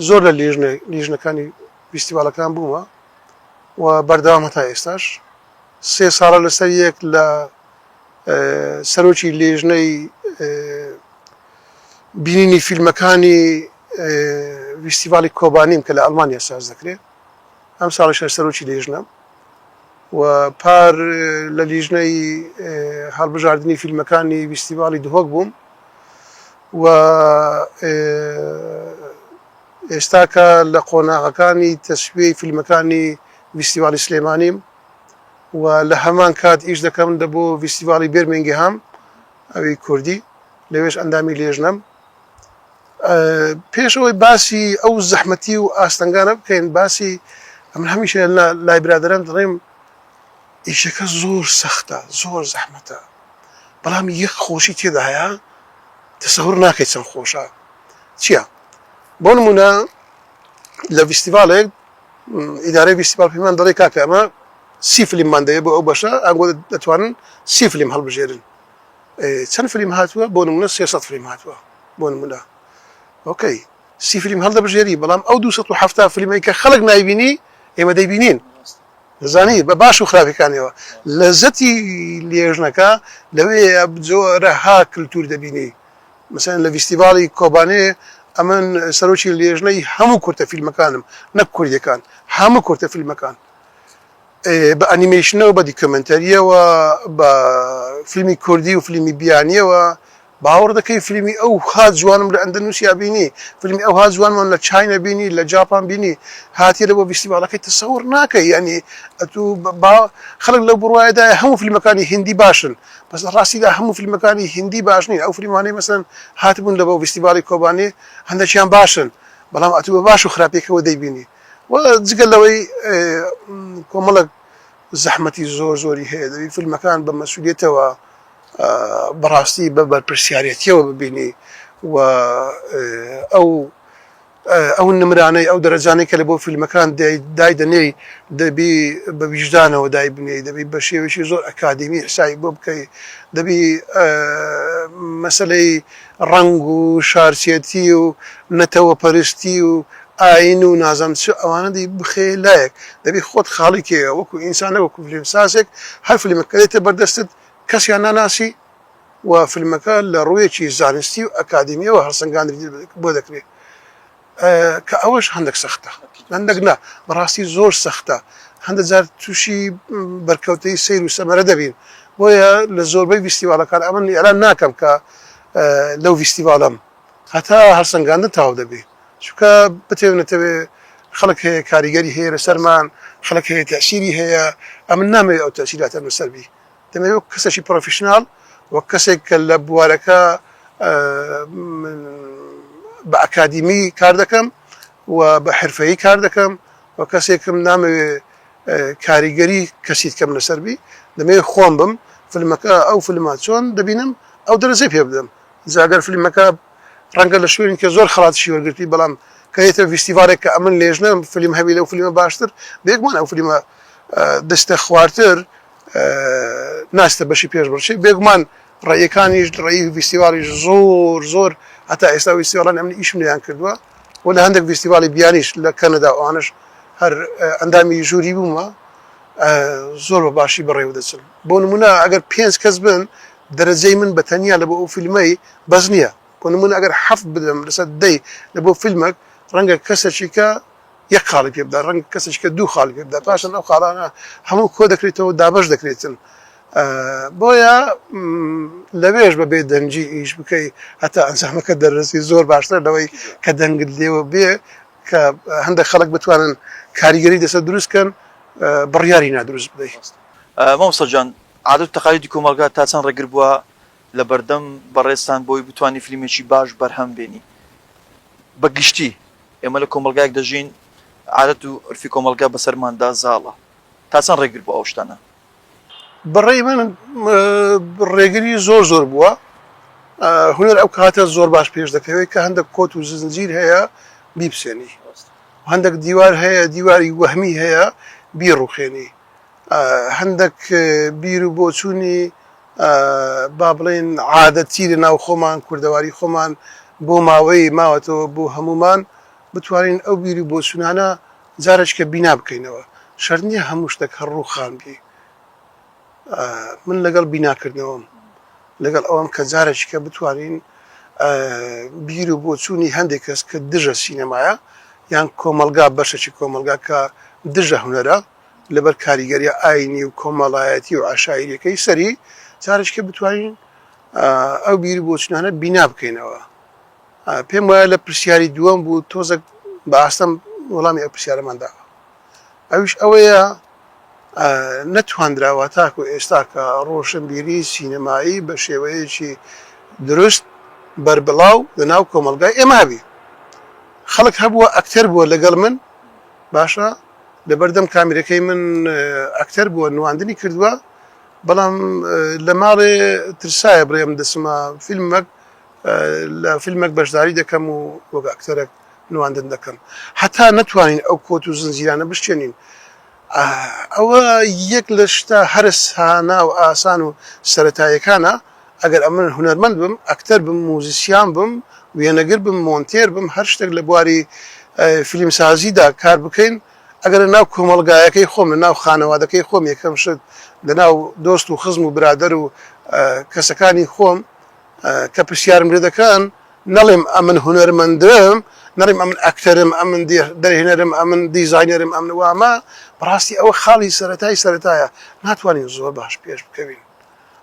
زۆر لە لێژنە لیژنەکانی فیستیڤاڵەکان بوومە و بەردەوامە تا ئێستاش، سێ ساڵە لەسەر یەک لە سەرۆکی لێژنەی بینینی فیلمەکانی ڤیستیڤاڵی کۆبانیم کە لە ئەڵمانیا ساز دەکرێ. ئەمساڵیش هەر سەرۆکی لیژنەم و پار لە لیژنەی هەڵبژاردنی فیلمەکانی ڤیستیڤاڵی دهۆک بووم و ئێستاکە لە قۆناغەکانی تەسویەی فیلمەکانی ڤیستیڤاڵی سلێمانیم و لە هەمان کات ئیش دەکەم دە بۆ ڤیستیڤاڵی بێرمینگهام ئەوی کوردی لەوێش ئەندامی لێژنەم. پێش ئەوەی باسی ئەو زەحمەتی و ئاستەنگانە بکەین باسی ئەمن هەمیشە لای برادران دەڵێم ئیشەکە زۆر سەختە زۆر زەحمەتە بەڵام یەک خۆشی تێدا هەیە تەسەور ناکەی چەند خۆشە چییە بۆ نمونە لە ڤیستیڤالێک ئیدارەی گشتی ماڵپەیمان دەڵێ کاکە ئەمە سی فلیممان دەوێت بۆ ئەو بەشە ئەنگۆ دەتوانن سی فلیم هەڵبژێرن چەند فلیم هاتووە بۆ نمونە سێ سەد فلیم هاتووە بۆ نمونە ئۆکەی سی فلیم هەڵدەبژێری بەڵام ئەو دو سەد و حەفتا فلیمەی کە خەڵک نایبینی ئێمە دەیبینین دەزانی بە باش و خراپەکانیەوە لەزەتی لێژنەکە لەوێ جۆرەها کللتور دەبینی مەسەلەن لە ڤیستیڤاڵی کۆبانێ ئەمن سەرۆکی لێژنەی هەموو کورتە فیلمەکانم نەک کوردیەکان هەموو کورتە فیلمەکان بە ئەنیمەیشنەوە بە دیکۆمێنتەریەوە بە فیلمی کوردی و فیلمی بیانیەوە باوەڕ دەکەی فیلمی ئەو ها جوانم لە ئەندەنووسیا بینی فیلمی ئەو ها جوانمان لە چاینە بینی لە جاپان بینی هاتیە لە بۆ ڤیستیڤاڵەکەی تەسەوڕ ناکەی یانی ئەتوو با خەڵک لەو بڕوایەدایە هەموو فیلمەکانی هندی باشن بەس لە ڕاستیدا هەموو فیلمەکانی هیندی باش نین ئەو فلیمانەی مەسەلەن هاتبوون لە بۆ ڤیستیڤاڵی کۆبانێ هەندەکیان باشن بەڵام ئەتوو بە باش و خراپیەکەوە دەیبینی و جگە لەوەی کۆمەڵک زەحمەتی زۆر زۆری هەیە دەبی فیلمەکان بە مەسولیتەوە بەڕاستی بە بەرپرسیارەتیەوە ببینی و ئەو ئەو نمرانەی ئەو دەرەجانەی کە لە بۆ فیلمەکان دایدەنێی دەبی بە ویژدانەوە دایبنێی دەبی بە شێوەیەکی زۆر ئەکادیمی حسابی بۆ بکەی دەبی مەسەلەی ڕەنگ و شارچێتی و نەتەوە پەرستی و ئاین و نازانم چ ئەوانە دەی بخەی لایەک دەبی خۆت خاڵی کەیەوە وەکو ئینسان نەک وەکو فیلمسازێک هەر فیلمەک کە دێتە بەردەستت کەسیان ناناسی و فیلمەکە لە ڕوویەکی زانستی و ئەکادیمیەوە هەڵسەنگاندنی بۆ دەکرێت کە ئەوەش هەندەک سەختە هەندەک نا بەڕاستی زۆر سەختە هەندە جار تووشی بەرکەوتەی سیر و سەمەرە دەبین بۆیە لە زۆربەی ویستیواڵەکان ئەمن ئێلان ناکەم کە لەو ویستیواڵەم هەتا هەڵسەنگاندن تەواو دەبێ چونکە بتەوێ نەتەوێ خەڵک هەیە کاریگەری هەیە لەسەرمان خەڵک هەیە تەئسیری هەیە ئەمن نامەوێ ئەو تەئسیراتەم لەسەر بی دەمەوێت وەک کەسێکی پرۆفیشناڵ، وەک کەسێک کە لە بوارەکە من بە ئەکادیمی کار دەکەم و بە حرفەیی کار دەکەم و کەسێکم نامەوێ کاریگەری کەسی دکەم لەسەر بی دەمەوێت خۆم بم فلمەکە ئەو فلمە چۆن دەبینم ئەو دەرەجەی پێ بدەم جاگەر فلمەکە ڕەنگە لە شوێنی کە زۆر خڵاتشی وەرگرتی بەڵام کەێتە ویستیڤالێک کە ئەمن لێژنە فلیم هەبی لەو فلیمە باشتر بێگومان ئەو فلیمە دەستە خوارتر ناچێتە بەشی پێش بڕچێ بێگومان ڕێیەکانیش ڕێی ڤیستیڤاڵیش زۆر زۆر هەتا ئێستا ڤیستیڤاڵانی ئەمنی ئیشم لێیان کردووە و لە هەندێک ڤیستیڤاڵی بیانیش لە کەنەدا و ئەوانەش هەر ئەندامی ژووری بوومە زۆر بە باشی بەڕێوە دەچن بۆ نمونە ئەگەر پێنج کەس بن دەرەجەی من بە تەنیا لە بۆ ئەو فیلمەی بەس نییە بۆ نمونە ئەگەر حەفت بدەم لەسەر دەی لە بۆ فیلمێک ڕەنگە کەسێکیکە یەک خاڵی پێ بدات، ڕەنگە کەسێکیکە دوو خاڵی پێ بدات، پاشان ئەو خاڵانە هەموو کۆ دەکرێتەوە و دابەش دەکرێتن. بۆیە لەوێش بە بێ دەنگی ئیش بکەی هەتا ئەنجامەکە دەرەسی زۆر باشتر لەوەی کە دەنگت لێوە بێ کە هەندێک خەڵک بتوانن کاریگەری دەسە دروستکەن بڕیاری نادروست بدەیت. مامۆستا گیان عادەت و تەقالیدی کۆمەڵگا تا چەند ڕێگر بووە لە بەردەم بەڕێزتان بۆی بتوانی فلیمێکی باش بەرهەم بێنی بە گشتی؟ ئێمە لە کۆمەڵگایەک دەژین عادەت و عورفی کۆمەڵگا بەسەرماندا زاڵە، تا چەند ڕێگر بۆ ئەو شتانە؟ بەڕای من ڕێگری زۆر زۆر بووە، هونەر ئەو کاتە زۆر باش پێش دەکەوێت کە هەندێک کۆت و زنجیر هەیە بیپسێنی، هەندێک دیوار هەیە دیواری وەهمی هەیە بیڕوخێنی، هەندەک بیر و بۆچوونی با بڵێین عادەتی لە ناو خۆمان کوردەواری خۆمان بۆ ماوەی ماوەتەوە بۆ هەمومان بتوانین ئەو بیر و بۆچوونانە جارێکە بینا بکەینەوە شەر نییە هەموو شتێک هەر ڕووخان بی من لەگەڵ بیناکردنەوەم لەگەڵ ئەوەم کە جارێکیکە بتوانین بیر و بۆچوونی هەندێک کەس کە دژە سینەمایە یان کۆمەڵگا بەشەکی کۆمەڵگا کە دژە هونەرە لەبەر کاریگەریە ئاینی و کۆمەڵایەتی و عشایریەکەی سەری جارێکیکە بتوانین ئەو بیر و بۆچونانە بینا بکەینەوە پێم وایە لە پرسیاری دووەم بوو تۆزەک بە ئاستەم وەڵامی ئەو پرسیارەمان داوە ئەویش ئەوەیە نەتواندراوە تاکو ئێستا کە ڕۆشنبیری سینەمایی بە شێوەیەکی دروست بەربڵاو لە ناو کۆمەڵگای ئێمە هەبی. خەڵک هەبووە ئەکتەر بووە لەگەڵ من باشە لەبەردەم کامیرەکەی من ئەکتەر بووە نواندنی کردووە بەڵام لە ماڵێ ترسایە بڵێم دەچمە فیلمەک لە فیلمەک بەشداری دەکەم و وەک ئەکتەرەک نواندن دەکەم هەتا نەتوانین ئەو کۆت و زنجیرانە بشکێنین ئەوە یەک لە شتە هەرە سانا و ئاسان و سەتایەکانە ئەگەر ئەمن هونەرمەند بم ئەکتەر بم موزیسیان بم وێنەگر بم مۆنتێر بم هەر شتێک لە بواری فیلمسازیدا کار بکەین ئەگەر لە ناو کۆمەڵگایەکەی خۆم لە ناو خانەوادەکەی خۆم یەکەم شت لە ناو دۆست و خزم و برادەر و کەسەکانی خۆم کە پرسیارم لێ دەکەن، نەڵێم ئەمن هونەرمەندم، نەڵێم ئەمن ئەکتەرم، ئەمن دەرهێنەرم، ئەمن دیزاینەرم، ئەمن وامە، بەڕاستی ئەوە خاڵی سەرەتای سەرەتایە، ناتوانین زۆر باش پێش بکەوین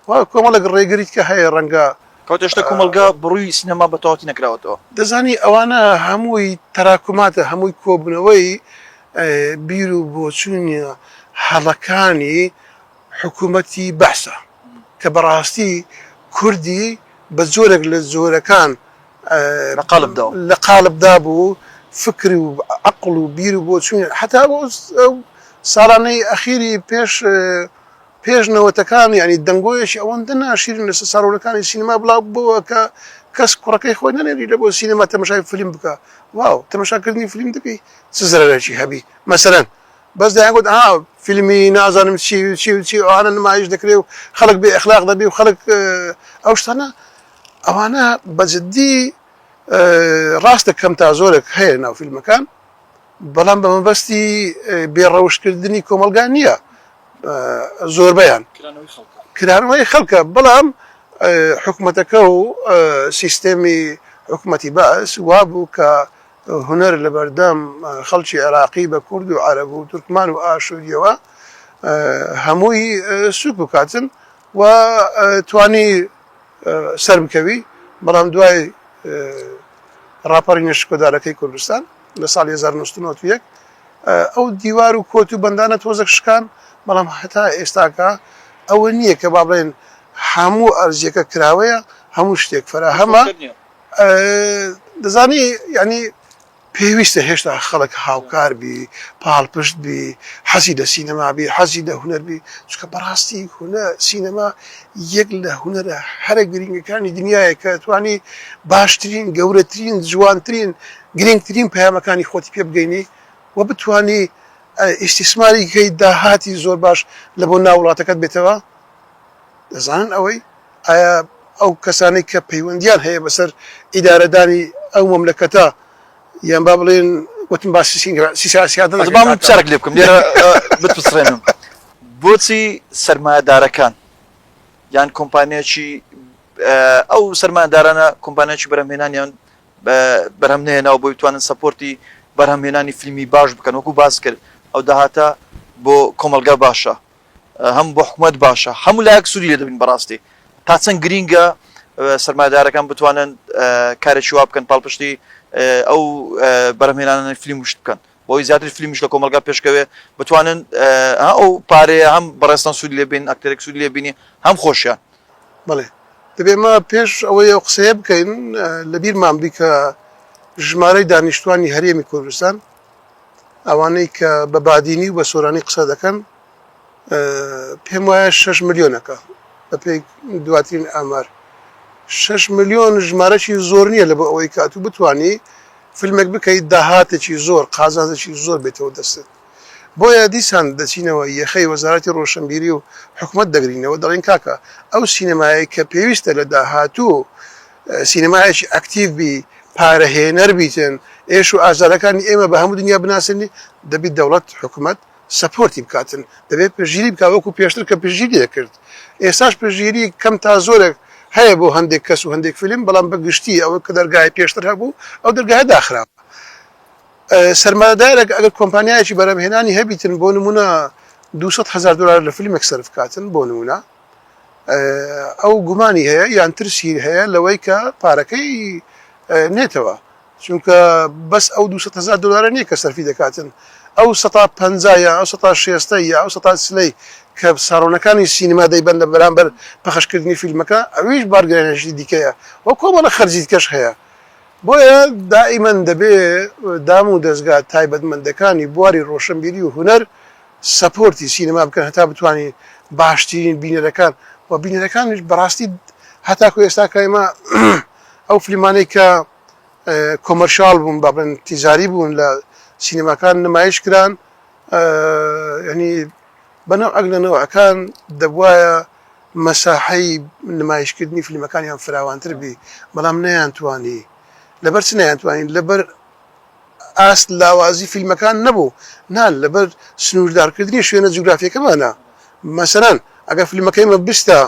و کۆمەڵێک ڕێگریت کە هەیە ڕەنگە. کەواتە هێشتا کۆمەڵگا بڕووی سینەما بە تەواوەتی نەکراوەتەوە. دەزانی ئەوانە هەمووی تەراکوماتە، هەمووی کۆبوونەوەی بیر و بۆچوونە هەڵەکانی حکومەتی بەعسە کە بەڕاستی کوردی بە جۆرێک لە جۆرەکان لە قالب دا و. لە قالب دا بوو، فکر و عەقڵ و بیر و بۆچوونی حەتا ئەو ساڵانەی ئەخیری پێش پێش نەوەتەکان یانی دەنگۆیەکی ئەوەندە ناشیرین لەسەر ساڵۆنەکانی سینەما بڵاو بۆوە کە کەس کوڕەکەی خۆی نەنێری لە بۆ سینەما تەمەشای فلیم بکا واو تەمەشا کردنی فلیم دەبی چ زەرەرێکی هەبی مەسەلەن بەس دەیان گوت ها فیلمی نازانم چی و چی و چی و ئەوانە نمایش دەکرێ و خەڵک بێ ئەخلاق دەبی و خەڵک ئەو شتانە ئەوانە بە جدی ڕاستە کەم تا زۆرێک هەیە ناو فیلمەکان بەڵام بە مەبەستی بێ ڕەوشکردنی کۆمەلگا نییە زۆربیان کرانەوەی خەڵکە بەڵام حکوومەتەکە و سیستێمی حکوومەتی باس وابوو کە هونەر لە بەردەم خەڵکی عێراقی بە کورد و عەرەب و تورکمان و ئاشوورییەوە هەمووی سووک بکاتن و توانی سەر بکەوی بەڵام دوای ڕاپەڕینە شکۆدارەکەی کوردستان لە ساڵی 1991 ئەو دیوار و کۆت و بەندانە تۆزەک شکان بەڵام هەتا ئێستاکە ئەوە نییە کە با بڵێن هەموو ئەرزیەکە کراوەیە هەموو شتێک فەراهەمە دەزانی یانی پێویستە هێشتا خەڵک هاوکار بی پاڵپشت بی حەزی لە سینەما بی حەزی لە هوەر بی چکە بەڕاستی هونە سینەما یەک لە هوەرە هەرە گرنگەکانی دنیاە کە توانی باشترین گەورەترین جوانترین گرنگترین پەیامەکانی خۆتی پێ بگەینی و بتانی ئیسیسماری کەی داهاتی زۆر باش لە بۆ ناوڵاتەکەت بێتەوە دەزان ئەوەی ئایا ئەو کەسانەی کە پەیوەندییان هەیە بەسەر ئیدارەدانی ئەو مەملەکەتە یان با بڵێن وتم باسی سیاسیات ناکەین. با من پرسیارێک لێ بکەم لێرە بتپسڕێنم، بۆچی سەرمایەدارەکان یان کۆمپانیای ئەو سەرمایەدارانە کۆمپانیای بەرهەمهێنانیان بەرهەم نەهێناوە بۆی بتوانن سەپۆرتی بەرهەمهێنانی فیلمی باش بکەن وەکو باست کرد ئەو داهاتە بۆ کۆمەڵگا باشە؟ هەم بۆ حکومەت باشە هەموو لایەک سوودی لێ دەبین بەڕاستی تا چەند گرینگە سەرمایدارەکان بتوانن کارێکی وا بکەن پاڵپشتی ئەو بەرهمێنانە فیلم وشت بکەن بۆی زیاتر فیلمش لە کۆمەلگا پێشکەوێ بتوانن ئەو پارەیە هەم بەڕێستان سوود لێبین ئەکتەرێک سوود لێبینی هەم خۆشیان بڵێ دەبێ ما پێش ئەوەی ئەو قسەیە بکەین لە بیرمان بی کە ژمارەی دانیشتوانی هەرێمی کوردستان ئەوانەی کە بە بادینی و بە سۆرانی قسە دەکەن پێم وایە شش ملیۆنەکە بەپێی دواترین ئامار شش ملیۆن ژمارەی زۆر نییە لە بۆ ئەوەی کات و بتانی فیلمێک بکەیت داهاتێکی زۆر قازانجێکی زۆر بێتەوە دەستت بۆیە دیسان دەچینەوە یەخەی وەزارەتی ڕۆشنبیری و حکومت دەگرینەوە دەڵین کاکە ئەو سینەمایە کە پێویستە لە داهاتوو سینەمایەکی ئەکتیڤ بی، پارە هێنەر بیتن، ئێش و ئازارەکانی ئێمە بە هەموو دنیا بناسێنی، دەبی دەوڵەت، حکومەت، سەپۆرتی بکاتن، دەبێ پشتگیری بکا وەکو پێشتر کە پشتگیری دەکرد. ئێستاش پشتگیری کەم تا زۆرێک هەیە بۆ هەندێک کەس و هەندێک فیلم، بەڵام بە گشتی ئەوە کە دەرگایە پێشتر هەبوو، ئەو دەرگایە داخراوە. سەرمایەدارێک ئەگەر کۆمپانیایەکی بەرهەمهێنانی هەبیتن، بۆ نموونە دوو سەد هەزار دۆلار لە فیلمێک سەرف کاتن، بۆ نموونە، ئەو گومانی هەیە یان ترسی هەیە لەوەی کە پارەکەی نێتەوە چونکە بەس ئەو 200هزار دلارە نییە کە سەرفی دەکاتن ئەو 150 یا ئەو 16 یا ئەو 1سلەی کە ساڕۆنەکانی سینما دەیبەن لە بەرامبەر پەخشکردنی فیلمەکە ئەویش بارگرێنشی دیکەیە وە کۆمەڵە خەرجیت کەش هەیە بۆیە دائیمەن دەبێ دام و دەستگا تایبەتمەندەکانی بواری ڕۆشنبیری و هونەر سەپۆرتی سینەما بکەن هەتا بتوانین باشترین بینەرەکان و بینەرەکانیش بەڕاستی هەتاکو ئێستا کە ئێمە ئەو فلیمانەی کە کۆمەرشال بوون با بڵێن تیجاری بوون لە سینەماکان نمایش کران ینی بەنەو ئەگ لە نەوەکان دەبواە مەساحەی نمایشکردنی فلیمەکانیان فراوانتر بی بەڵام نەیان توانی لەبەر چ نەیان توانین لەبەر ئاست لاوازی فیلمەکان نەبوو، نا لەبەر سنووردارکردنی شوێنە جوگرافییەکەمانە. مەسەلەن ئەگەر فیلمەکەی مە بستە،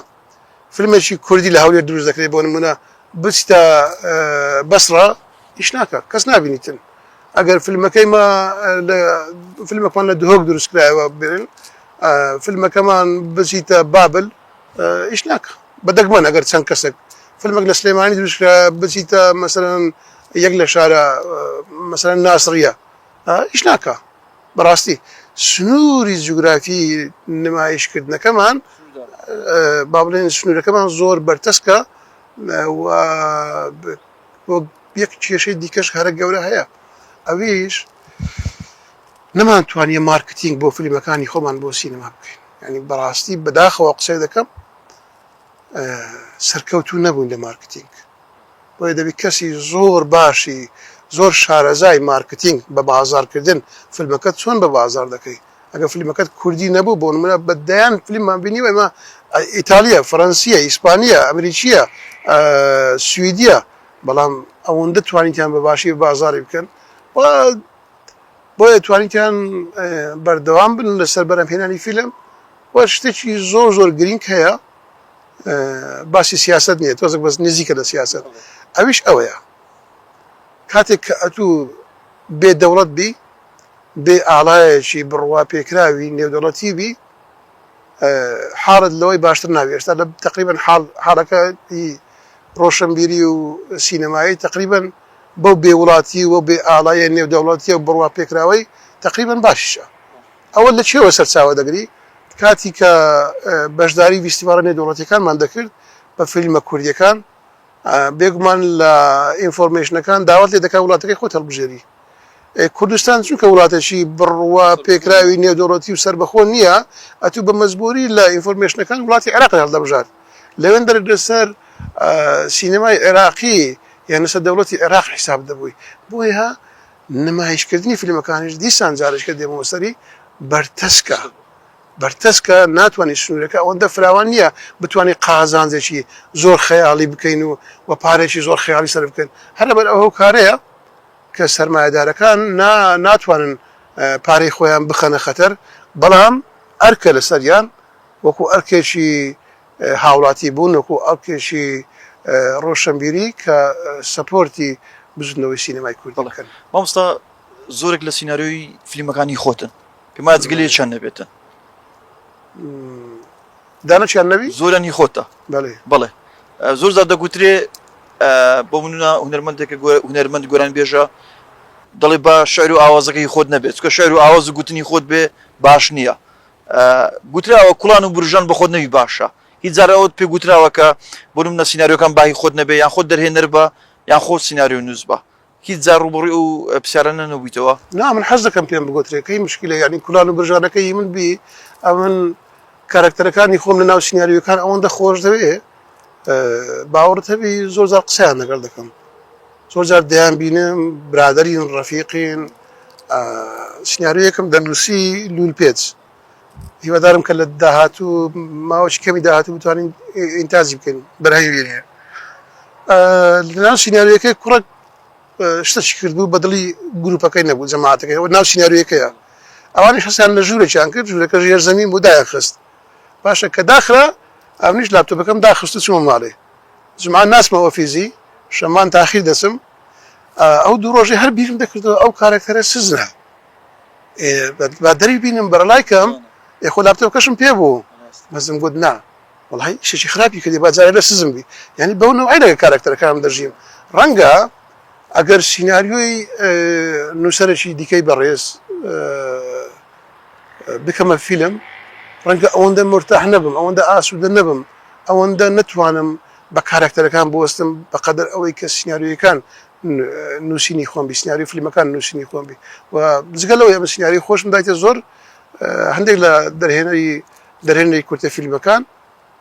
فیلمێکی کوردی لە هەولێر دروست دەکرێت بۆ نموونە، بچتە بەسڕە ئیش ناکات، کەس نابینیتن. ئەگەر فیلمەکەی مە لە فیلمەکەمان لە دهۆک دروست کرایەوە بێنن، فیلمەکەمان بچیتە بابل، ئیش ناکا بە دەگمەن ئەگەر چەند کەسێک فلمێک لە سلێمانی دروست کرا بچیتە مەسەرەن یەک لە شارە مەسەرەن ناسڕە ئیش ناکا بەڕاستی سنووری جوگرافی نمایشکردنەکەمان با بڵێن سنوورەکەمان زۆر بەرتەسکە یەک کێشەی دیکەش هەرە گەورە هەیە ئەویش نەمانتوانیە مارکتینگ بۆ فلیمەکانی خۆمان بۆ سینەما بکەین یانی بەڕاستی بەداخەوە قسەی دەکەم سەرکەوتو نەبووین لە مارکتینگ بۆیە دەبی کەسی زۆر باشی زۆر شارەزای مارکتینگ بە بازارکردن فلمەکەت چۆن بە بازار دەکەی ئەگە فلیمەکەت کوردی نەبوو بۆ نمونە بە دەیان فلیممان بینی و ئمە ئیتالیە فەرەنسیە ئیسپانیە ئەمریکیە سویدیە بەڵام ئەوەندە توانیتیان بە باشی بازاری بکەن و بۆیە توانیتان بەردەوام بن لەسەر بەرەمهێنانی فیلم و شتێکی زۆر زۆر گرینگ هەیە باسی سیاست نیە تۆزک بەس نزیکە لە سیاست ئەویش ئەوەیە کاتێک کە ئەتوو بێ دەوڵەت بی بێ ئاڵایەکی بڕوا پێکراوی نێودەڵەتی بی حاڵت لەوەی باشتر ناوی ئێستا لە تقریبن حاڵەکە ڕۆشنبیری و سینەمایی تقریبن بەو بێ وڵاتی و بێ ئاڵایە نێو دەوڵەتیە و بڕوا پێکراوەی تەقریبەن باشیشە ئەوە لە چێوە سەرچاوە دەگری کاتی کە بەشداری ویستیڤاڵە نێو دەوڵەتیەکانمان دەکرد بە فیلمە کوردیەکان بێگومان لە ئینفۆرمێشنەکان داوات لێ دەکا وڵاتەکەی خۆت هەڵبژێری کوردستان چونکە وڵاتێکی بڕوا پێکراوی نێودەوڵەتی و سەربەخۆ نییە ئەتوو بە مەزبووری لە ئینفۆرمێشنەکان وڵاتی عێراق هەڵدەبژار لەوێندەر لەسەر سینەمای عێراقی یان لەسەر دەوڵەتی عێراق حیساب دەبووی، بۆیە نمایشکردنی فیلمەکانیش دیسان جارێکە دێمەوە سەری بەرتەسکە، بەرتەسکە ناتوانین سنوورەکە ئەوەندە فراوان نییە بتوانین قازانجێکی زۆر خەیاڵی بکەین و و پارەیەکی زۆر خەیاڵی سەرف بکەین، هەر لەبەر ئەو هۆکارەیە کە سەرمایەدارەکان نا ناتوانن پارەی خۆیان بخەنە خەتەر، بەڵام ئەرکە لەسەریان. وەکو ئەرکێکی هاوڵاتی بوون، وەکو ئەرکێکی ڕۆشەنبیری کە سەپۆرتی بزوتنەوەی سینەمای کوردی بکەن. مامۆستا زۆرێک لە سیناریۆی فلیمەکانی خۆتن پێم وایە جگە لە یەکیان نەبێتن. دانەکیان نەبی؟ زۆریان هی خۆتە. بەڵێ. بەڵێ. زۆر جار دەگوترێ بۆ منە هونەرمەندێکە هونەرمەند گۆران بێژە دەڵێ با شعر و ئاوازەکە هی خۆت نەبێت چکە شعر و ئاواز و گوتنی خۆت بێ باش نییە. گوتراوە کوڵان و برژان بە خۆت نەبی باشە، هیچ جار ئەوەت پێ گوتراوە کە بۆ نمونە سیناریۆکان با هی خۆت نەبێ یان خۆت دەرهێنەر بە یان خۆت سیناریۆنووس بە؟ هیچ جار ڕووبەڕووی ئەو پرسیارانە نەبوویتەوە؟ نا من حەز دەکەم پێم بگۆترێ کەی مشکلە یانی کولان و برژانەکە هی من بی ئەمن کارەکتەرەکانی خۆم لە ناو سیناریۆکان ئەوەندە خۆش دەوێ باوەڕت هەبی زۆر جار قسەیان لەگەڵ دەکەم زۆر جار دەیان بینم برادەرین ڕەفیقین سناریۆیەکم دەنووسی لول پێچ هیوادارم کە لە داهاتوو ماوەی کەمی داهاتوو بتوانین ئینتاجی بکەین بەرهەمی بینێ لەناو سناریۆەکەی کوڕک شتەشی کردبوو بەدڵی گروپەکەی نەبوو جەماعاتەکەی ئەو ناو سناریۆەکەیە ئەوانی حەسیان لە ژوورێکیان کرد ژوورەکە ژێر زەمین بۆ دایان خست باشە کە داخرا ئەمنیش لاپتۆپەکەم داخست و چوومە ماڵێ جومعە ناچمەوە فیزی شەمان تاخیر دەچم ئەو دوو ڕۆژی هەر بیرم دەکردەوە ئەو کارەکتەرە سزرە با دەری بینم بەرەلای کەم یخۆ لاپتۆپ کەشم پێ بوو مەزم گوت نا وڵی شێکی خراپی کردی باجارە لە سزم بی یعنی بەو نەوەی لەگە کارەکتەرەکانم دەژیم ڕەنگە ئەگەر سینناریۆی نووسەرێکی دیکەی بەڕێز بکەمە فیلم، ڕەنگە ئەوەندە مورتاح نەبم، ئەوەندە ئاسوودە نەبم، ئەوەندە نەتوانم بە کارەکتەرەکان بوەستم بە قەدەر ئەوەی کە سیناریۆیەکان نووسینی خۆم بی، سیناریۆی فیلمەکان نووسینی خۆم بی و جگە لەوەی ئەمن سیناریۆی خۆشم دایتە زۆر هەندێک لە دەرهێنەری دەرهێنەری کورتە فیلمەکان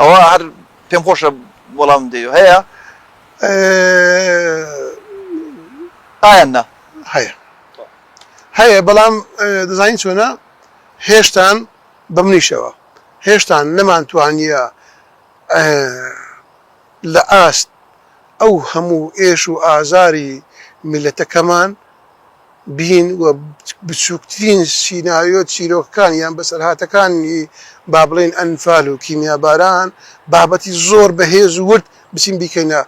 ئەوە هەر پێم خۆشە وەڵامم دەیەوە هەیە؟ ئەه ئایان نا. هەیە هەیە بەڵام دەزانی چۆنە هێشتان بە منیشەوە هێشتان نەمانتوانیە لە ئاست ئەو هەموو ئێش و ئازاری میللەتەکەمان بین و بچووکترین سیناریۆ چیرۆکەکان یان بەسەرهاتەکانی با بڵێین ئەنفال و کیمیاباران بابەتی زۆر بەهێز و ورد بچین بیکەینە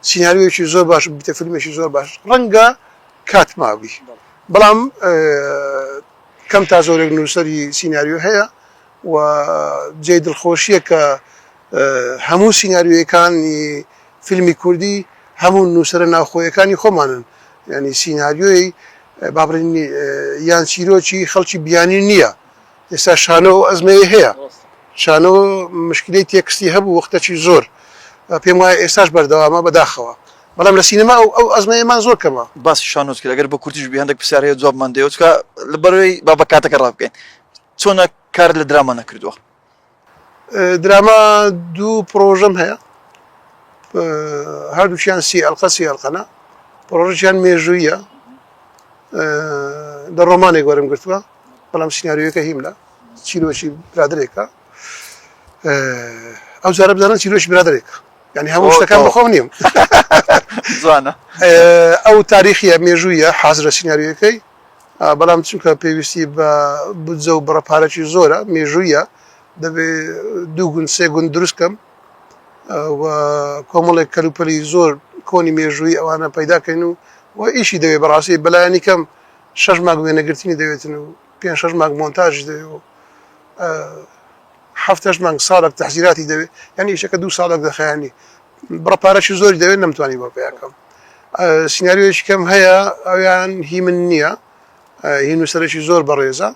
سیناریۆیەکی زۆر باش و ببیتە فیلمێکی زۆر باش ڕەنگە کات مابی بەڵام کەم تا زۆرێک نووسەری سیناریۆ هەیە و جێی دڵخۆشییە کە هەموو سیناریۆیەکانی فیلمی کوردی هەموو نووسەرە ناوخۆیەکانی خۆمانن، یانی سیناریۆی با بڵێین یان چیرۆکی خەڵکی بیانی نییە، ئێستا شانۆ ئەو ئەزمەی هەیە، شانۆ مشکلەی تێکستی هەبوو وەختەکی زۆر، پێم وایە ئێستاش بەردەوامە بەداخەوە، بەڵام لە سینەما ئەو ئەزمەیەمان زۆر کەمە. باسی شانۆت کرد، ئەگەر بە کورتیش بێ هەندێک پرسیار هەیە جوابمان دەیەوە، چونکە لەبەرئەوەی با بە کاتەکە ڕابکەین، چۆنە کارت لە دراما نەکردووە؟ دراما دوو پڕۆژەم هەیە هەردووکیان سی ئەلقە سی ئەلقەنە پڕۆژیان مێژوویە لە ڕۆمانێک وەرم گرتووە بەڵام سینناریوەکە هیم لە چیرۆکی برادرێکە ئەو جارە بزانە چیرۆکی برادرێکە ینی هەموو شتەکان بەخۆم نیم جوانە ئەو تاریخە مێژوویە حازرە سینناریوەکەی بەڵام چونکە پێویستی بە بودجە و بڕە پارەکی زۆرە مێژوویە دەبێ دوو گوند سێ گوند دروست کەم و کۆمەڵێک کەلوپەلی زۆر کۆنی مێژووی ئەوانە پەیداکەین و و ئیشی دەوێت بەڕاستی بەلایەنی کەم شەش ماگ وێنەگرتنی دەوێتن و پێ شەش ماگ مۆنتاژی دەوێت و هەفتەش مانگ ساڵک تەحزیراتی دەوێت یعنی ئیشەکە دوو ساڵک دەخایانی بڕە پارەشی زۆری دەوێت نەمتوانی بۆ پێیاکەم سینناریۆیش کەم هەیە ئەویان هی من نییە هی نووسەرێکی زۆر بەڕێزە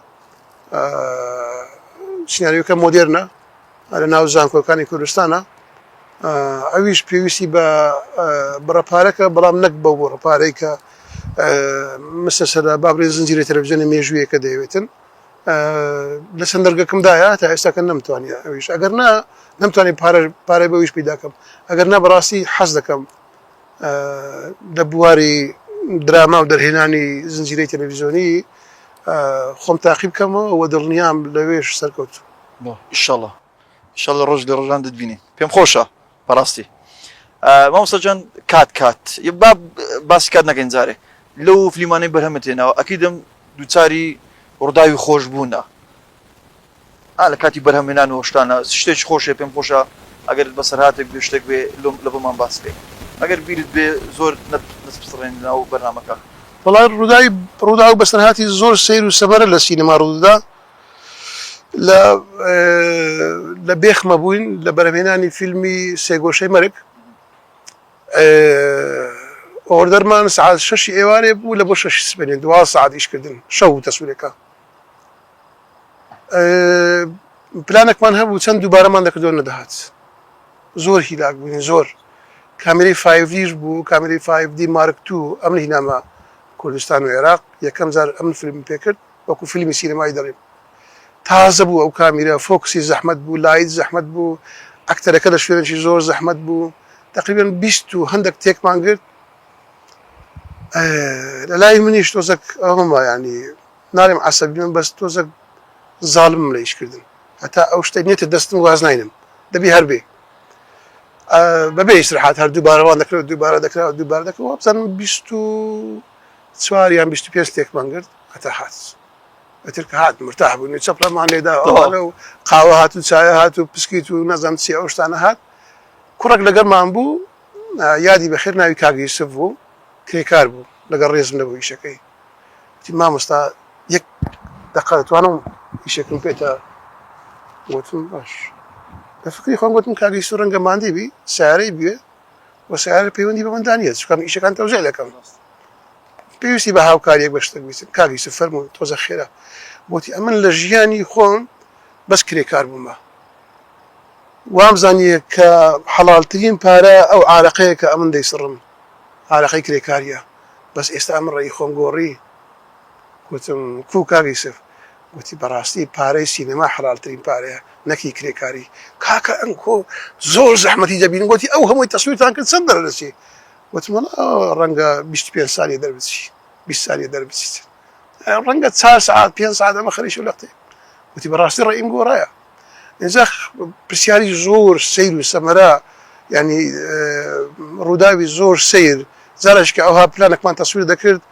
سینناریۆکە مۆدێرنە لە ناو زانکۆکانی کوردستانە ئەویش پێویستی بە بڕە پارەکە بەڵام نەک بە بۆ ڕپارەی کە مسە سەدا بابرێ زنجیرە تەلەڤزیۆنە مێژوویەکە دەیەوێتن لە چەند دەرگەکەم دایە تا ئێستا کە نەمتوانانی ئەویش ئەگەر نا نەمتوانانی پارە پارەی بەویش پیداکەم ئەگەر نا بەڕاستی حەز دەکەم لە بواری دراما و دەرهێنانی زنجیرەی تەلەڤزیۆنی خۆم تاقی بکەمەوە و دڵنیام لەوێش سەرکەوتو ئیشەڵە ان شاء اللە ڕۆژ لە ڕۆژان دەتبینین پێم خۆشە بەڕاستی مامۆستا جان کات کات با باسی کات نەکەین جارێ لەو فلیمانەی بەرهەمە تێناوە ئەکیدم دووچاری ڕووداوی خۆش بوونە لە کاتی بەرهەمێنان و شتانە شتێک خۆشێ پێم خۆشە ئەگەر بەسەرهاتێک بێ شتێک بێ لۆم لە بۆمان باس بکەین ئەگەر بیرت بێ زۆر نەسپڕێن ناو بەرنمەکە بەڵام ڕووداوی ڕوودا و بەسەرهاتی زۆر سیر و سەبارە لە سینەما ڕوودا لە لە بێخمە بووین لە بەرەمێنانی فیلمی سێگۆشەی مەرگ ئۆردەرمان سعات شەشی ئێوارێ بوو لە بۆ شەشی سپێنێ دوا سعات ئیشکردن شەو تەسوورەکە پلانێکمان هەبوو چەند دووبارەمان دەکردو نەدەهات زۆر هیلاک بووین زۆر کامیری فایڤدیش بوو کامیری فایڤدی مارکتو ئەم هینامە کوردستان و عێراق یەکەم جار ئەم فیلم پێکرد وەکو فیلمی سینەمایی دەڵێن تازە بوو ئەو کامیرە فۆکسی زەحمەت بوو لایت زەحمەت بوو ئەکتەرەکە لە شوێنێکی زۆر زەحمەت بوو تقریبان بیست و هەندێک تێکمان گرت لە لای منیش تۆزەک ئەومە ینی نارێم عسەبی من بەس تۆزەک زاڵم لە ئیشکردن هەتا ئەو شتە نێتە دەستم واز ناینم دەبی هەربێ بەبێ ئیسرحات هەر دووبارەوان دەکرێت دووبارە دەکرا دووبار دەکەەوە بزانم بیست و چوار یان بیست و پێنج تێکمان گرت هەتا هات ئەتر کە هات مرتاح بووین چەپلەمان لێدا ئەوانە و قاوە هات و چایە هات و پسکیت و نەزەم چی ئەو شتانە هات کوڕک لەگەڵمان بوو یادی بەخێر ناوی کاگەیسف بوو کرێکار بوو لەگەڵ ڕێزم لەبوو ئیشەکەی تی مامۆستا یەک دەقەتوانم ئیشەکەم پێێتە وتم باش لە فکری خۆم گوتم کاگەیسو ڕەنگە مادی بی سارەی بێ و سەیارە پەیوەندی بە مندا نییە چکام ئیشەکان تەوزیع دەکەم پێویستی بە هاوکاریەک بە شتێک بیستن کاک یوسف فەرموون تۆزە خێرا وتی ئەمن لە ژیانی خۆم بەس کرێکار بوومە وام زانیە کە حەڵالترین پارە ئەو عراقەیە کە ئەمن دەیسڕم عراقی کرێکاریە بەس ئێستا ئەمن ڕێی خۆم گۆڕی گوتم، کوو کاک یوسف؟ گوتی، بەڕاستی پارەی سینەما حەلالترین پارەیە، نەک هی کرێکاری. کاکە ئەنکۆ زۆر زەحمەتی دەبین. گوتی، ئەو هەمووی تەسویرتان کرد چەند دەردەچێ؟ گوتم، وەڵا ڕەنگە بیست و پێنج سانیە دەربچی، بیست سانیە دەربچیت. ڕەنگە چار سەعات، پێنج سەعات، ئەمە خەریکە لەقتەیە. گوتی، بەڕاستی ڕەئیم گۆڕایە. ئینجا پرسیاری زۆر سەیر و سەمەرە یانی ڕووداوی زۆر سەیر جارش کە ئەوها پلانەکمان تەسویر دەکرد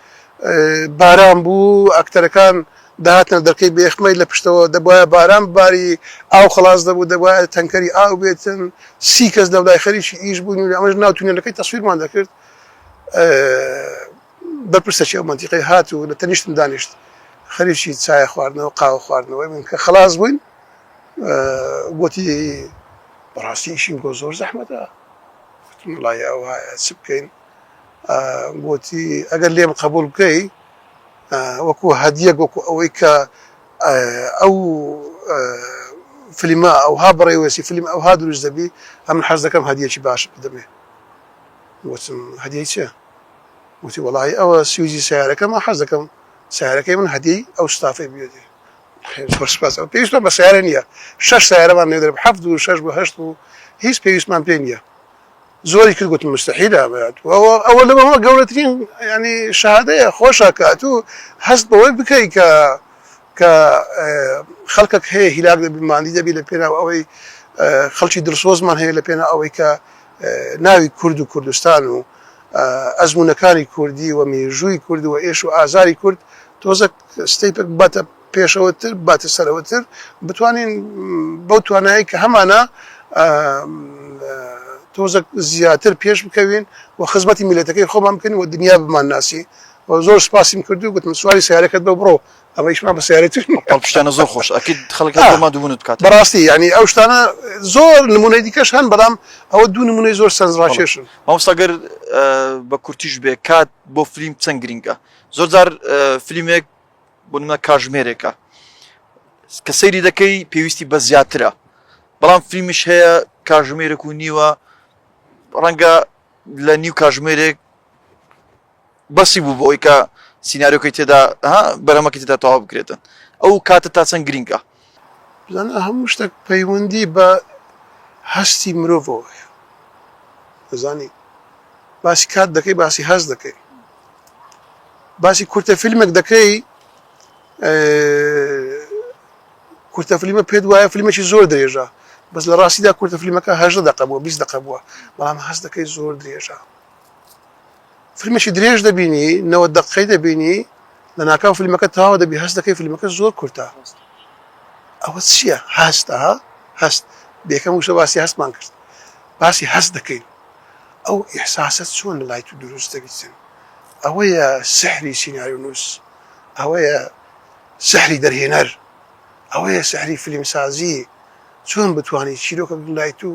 باران بوو ئەکتەرەکان داهاتنە دەرکەی بێخمەی لە پشتەوە دەبواە باران باری ئاو خلاص دەبوو دەبواە تەنکەری ئاو بێتن سی کەس لەولای خەریکی ئیش بوون و ئەمەش ناو تونێلەکەی تەسویرمان دەکرد بەرپرسەکی ئەو مەنتیقەی هات و لە تەنیشتم دانیشت، خەریکی چایە خواردنەوە، قاوە خواردنەوەی بووین، کە خەڵاس بووین گۆتی. بەڕاستی ئیشی بۆ زۆر زەحمەتە؟ گۆتم، وەڵاهی ئەوایە چ بکەین؟ گۆتی، ئەگەر لێم قەبووڵ بکەی وەکوو هەدیەک وەکوو ئەوەی کە ئەو فلیمە ئەوها بەڕێوەچی فلیم ئەوها دروست دەبی، ئەمن حەز دەکەم هەدیەکی باشت بدەمێ. گۆتم، هەدیەی چ؟ وتی وەڵاهی ئەوە سویجی سەیارەکەمە حەز دەکەم سەیارەکەی من هەدیەی ئەو ستافەی بوێتی زۆر سپاس ئەوە پێویستمان بە سەیارە نییە شەش سەیارەمان لێ دەرب حەفت و شەش بۆ هەشت و هیچ پێویستمان پێ نییە زۆری کرد گوتم مستحیلە ئەمەیات ئەوە لەمەوە گەورەترین ینی شادەیە خۆشە کات و هەست بەوەی بکەی کە کە خەڵکەک هەیە هیلاک دەبی ماندی دەبی لە پێناو ئەوەی خەڵکی دڵسۆزمان هەیە لە پێنا ئەوەی کە ناوی کورد و کوردستان و ئەزموونەکانی کوردی و مێژووی کورد و ئێش و ئازاری کورد تۆزەک ستەیپەک بباتە پێشەوەتر، بباتە سەرەوەتر، بتوانین بەو توانایەی کە هەمانە تۆزەک زیاتر پێش بکەوین و خزمەتی میلەتەکەی خۆمان بکەین و دنیا بمانناسی و زۆر سپاسیم کرد و گوتم سواری سەیارەکەت بە بڕۆ ئەوەیشمان بە سیارەی تر نیە. بەڵکو شتانە زۆر خۆش ئەکەیت خەڵک هەر بۆ ماندووبوونت بکات. بەڕاستی یانی ئەو شتانە زۆر نموونەی دیکەش هەن بەڵام ئەوە دوو نموونەی زۆر سەرنجڕاکێشن. مامۆستا گەر بە کورتیش بێ کات بۆ فلیم چەند گرینگە؟ زۆر جار فلیمێک بۆ نموونە کاژمێرێکە کە سەیری دەکەی پێویستی بە زیاترە بەڵام فلیمیش هەیە کاژمێرێک و نیوە ڕەنگە لە نیو کاژمێرێک بەسی بوو بۆی کە سینناریۆکەی تێدا ها بەرەمەکە تێدا تەوا بکرێتن ئەو کاتە تا چەند گرینگە بزان هەموو شتێک پەیوەندی بە هەستی مرۆڤەوە هەیە دەزانی باسی کات دەکەی باسی هەز دەکەی باسی کورتە فیلمێک دەکەی کورتە فلیمە پێت وایە فلیمێکی زۆر درێژە بەس لە ڕاستیدا کورتە فلیمەکە هەژدە دەقە بووە بیست دەقە بووە بەڵام هەست دەکەی زۆر درێژە فیلمێکی درێژ دەبینی نەوەد دەققەی دەبینی لەناکاو فیلمەکە تەواو دەبی هەست دەکەی فیلمەکە زۆر کورتە ئەوە چییە هەستە هەست بێکەم وشە باسی هەستمان کرد باسی هەست دەکەین ئەو ئیحساسە چۆن لای تو دروست دەبیتن ئەوەیە سحری سینارونووس ئەوەیە سحری دەرهێنەر ئەوەیە سحری فیلمسازی چۆن بتانی چیرۆکە لای تو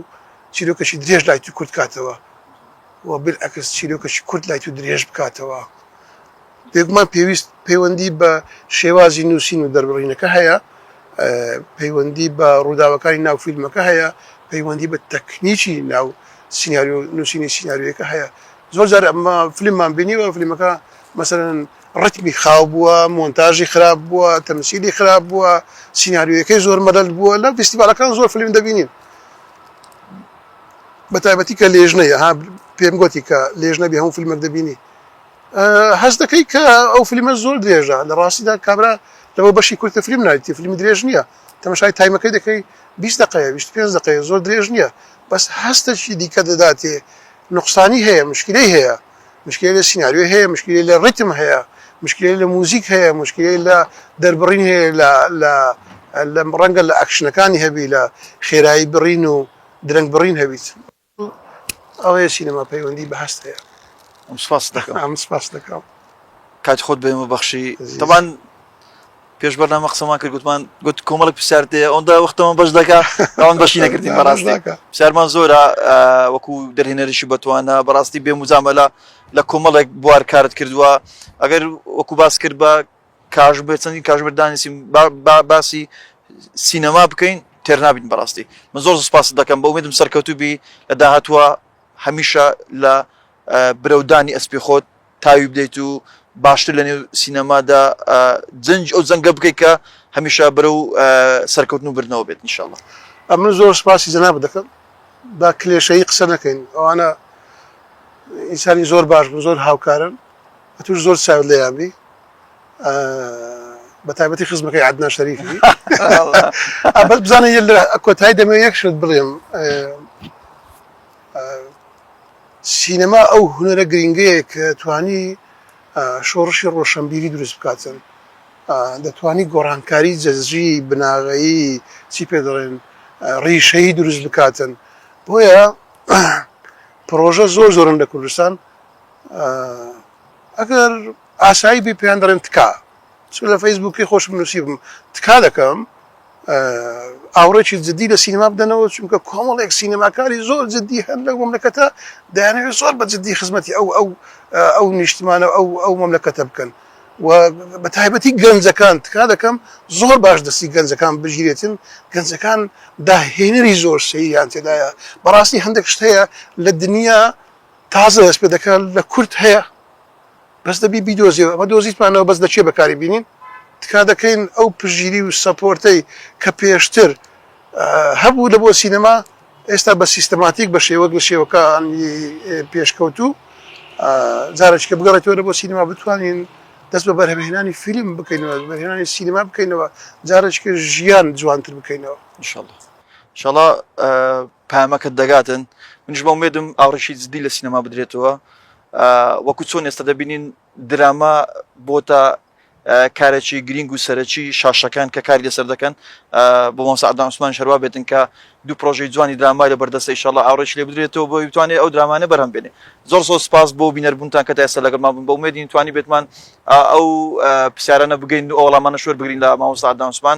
چیرۆکەشی درێژ لای تو کورت کاتەوە و بیلعەکس چیرۆکێکی کورت لای تۆ درێژ بکاتەوە. بێگومان پێویست پەیوەندی بە شێوازی نووسین و دەربڕینەکە هەیە، پەیوەندی بە ڕووداوەکانی ناو فیلمەکە هەیە، پەیوەندی بە تەکنیکی ناو سیناریۆ و نووسینی سیناریۆیەکە هەیە. زۆر جار ئەمە فیلممان بینیوە، فیلمەکە مەسەلەن ڕیتمی خاو بووە، مۆنتاژی خراپ بووە، تەمسیلی خراپ بووە، سیناریۆیەکەی زۆر مەلەل بووە، لە فیستیڤاڵەکان زۆر فیلم دەبینین. بەتایبەتی کە لێژنەیە ها پێم گۆتی کە لێژنە بێ هەموو فیلمێک دەبینی هەست دەکەی کە ئەو فیلمە زۆر درێژە لە ڕاستیدا کابرا لەوە بەشی کورتە فیلم نایتی فیلمی درێژ نییە تەمەشای تایمەکەی دەکەی 20 دقەیە 25 دقەیە زۆر درێژ نییە بەس هەستەکی دیکە دەداتێ نقصانی هەیە مشکلی هەیە مشکلی لە سینناریۆ هەیە مشکلی لە ڕیتم هەیە مشکلی لە موزیک هەیە مشکلی لە دەربڕین هەیە لە لە ڕەنگە لە ئەکشنەکانی هەبی لە خێرایی بڕین و درەنگ بڕین هەبیت. ئەوەیە سینەما پەیوەندی بە هەست هەیە. سپاست دەکەم. ئەمن سپاست دەکەم. کاتی خۆت بە ئێمە بەخشی. تەبان پێش بەرنامە قسەمان کرد گوتمان گوت کۆمەڵک پرسیارت هەیە ئەوەندا وەختەوە بەش دەکا ئەوان بەشی نەکردین بەڕاستە پرسیارمان زۆرە وەکو دەرهێنەریشی بەتوانە بەڕاستی بێ مزامەلا لە کۆمەڵێک بوار کارت کردووە ئەگەر وەکو باس کرد بە کاژمێر چەندین کاژمێر دانیشتین باسی سینەما بکەین تێرنابین بەڕاستی من زۆر سپاست دەکەم بە ئومێدم سەرکەوتوبی لە داهاتوە هەمیشە لە برەودانی ئەسپی خۆت تاوی بدەیت و باشتر لە نێو سینەمادا جنج ئەو جەنگە بکەیت کە هەمیشە برە و سەرکەوتن و بردنەوە بێت نیشاءله ئەمن زۆر سپاسی جەناب دەکەم با کلێشەی قسە نەکەین ئەوانە ئینسانی زۆر باش بوو زۆر هاوکارن ئەتوش زۆر چاوت لێیان بی بە تایبەتی خزمەکەی عدنا شەریفی بەس بزانە یە لە کۆتایی دەمێ یەک شت بڵێم سینەما ئەو هوەرە گرنگەیە کە توانی شۆڕشی ڕۆشنبیری دروست بکاتن دەتوانی گۆڕانکاری جەزجی بناغەیی چی پێ دەڵێن ڕیشەی دروست بکاتن بۆیە پرۆژە زۆر زۆرن لە کوردستان ئەگەر ئاسایی بێ پێیان دەڵێن تکا چ لە فەیسبووکی خۆشم نووسیبم تکا دەکەم ئاوڕێکی جددی لە سینما بدەنەوە چونکە کۆمەڵێک سینەماکاری زۆر جددی هەن لەو مەملەکەتە دەیانەوێت زۆر بە جددی خزمەتی ئەو ئەو ئەو نیشتمانە ئەو ئەو مەملەکەتە بکەن و بە تایبەتی گەنجەکان تکا دەکەم زۆر باش دەستی گەنجەکان بگیرێتن گەنجەکان داهێنەری زۆر سەیریان تێدایە بەڕاستی هەندێک شتەیە لە دنیا تازە دەست پێ دەکات لە کورد هەیە بەس دەبی بیدۆزیەوە ئەمە دۆزیتمانەوە بەس لە کێ بەکاری بینین تکا دەکەین ئەو پژگیری و سەپۆرتەی کە پێشتر هەبوو لە بۆ سینەما ئێستا بە سیستەماتیک بە شێوەک لە شێوەکانی پێشکەوتوو جارێککە بگەڕێتەوە لە بۆ سینەما بتوانین دەست بە بەرهەمهێنانی فیلم بکەینەوە بەرهێنانی سینەما بکەینەوە جارێککە ژیان جوانتر بکەینەوە انشاءالله شەڵا پەیامەکەت دەگاتن منیش بە ئومێدم ئاڕشی جدی لە سینەما بدرێتەوە وەکو چۆن ئێستا دەبینین دراما بۆتە کارێکی گرینگ و سەرەکی شاشەکان کە کاری لەسەر دەکەن بۆ مۆسەعدان عوسمان شەروا بێتن کە دوو پرۆژەی جوانی درامای لە بەردەستە ئیشەڵ ئاڕێش لێ بدرێتەوە بۆ بتوانێت ئەو درامانە بەرەم بێنێ زۆر زۆر سپاس بۆ بینەربوونتان کە تا ئێستا لەگەڵمان بوون بە ومێدین توانی بێتمان ئەو پرسیارانە بگەین و ئەوڵامانە شوێر بگرین لە مامۆستا عدنان عوسمان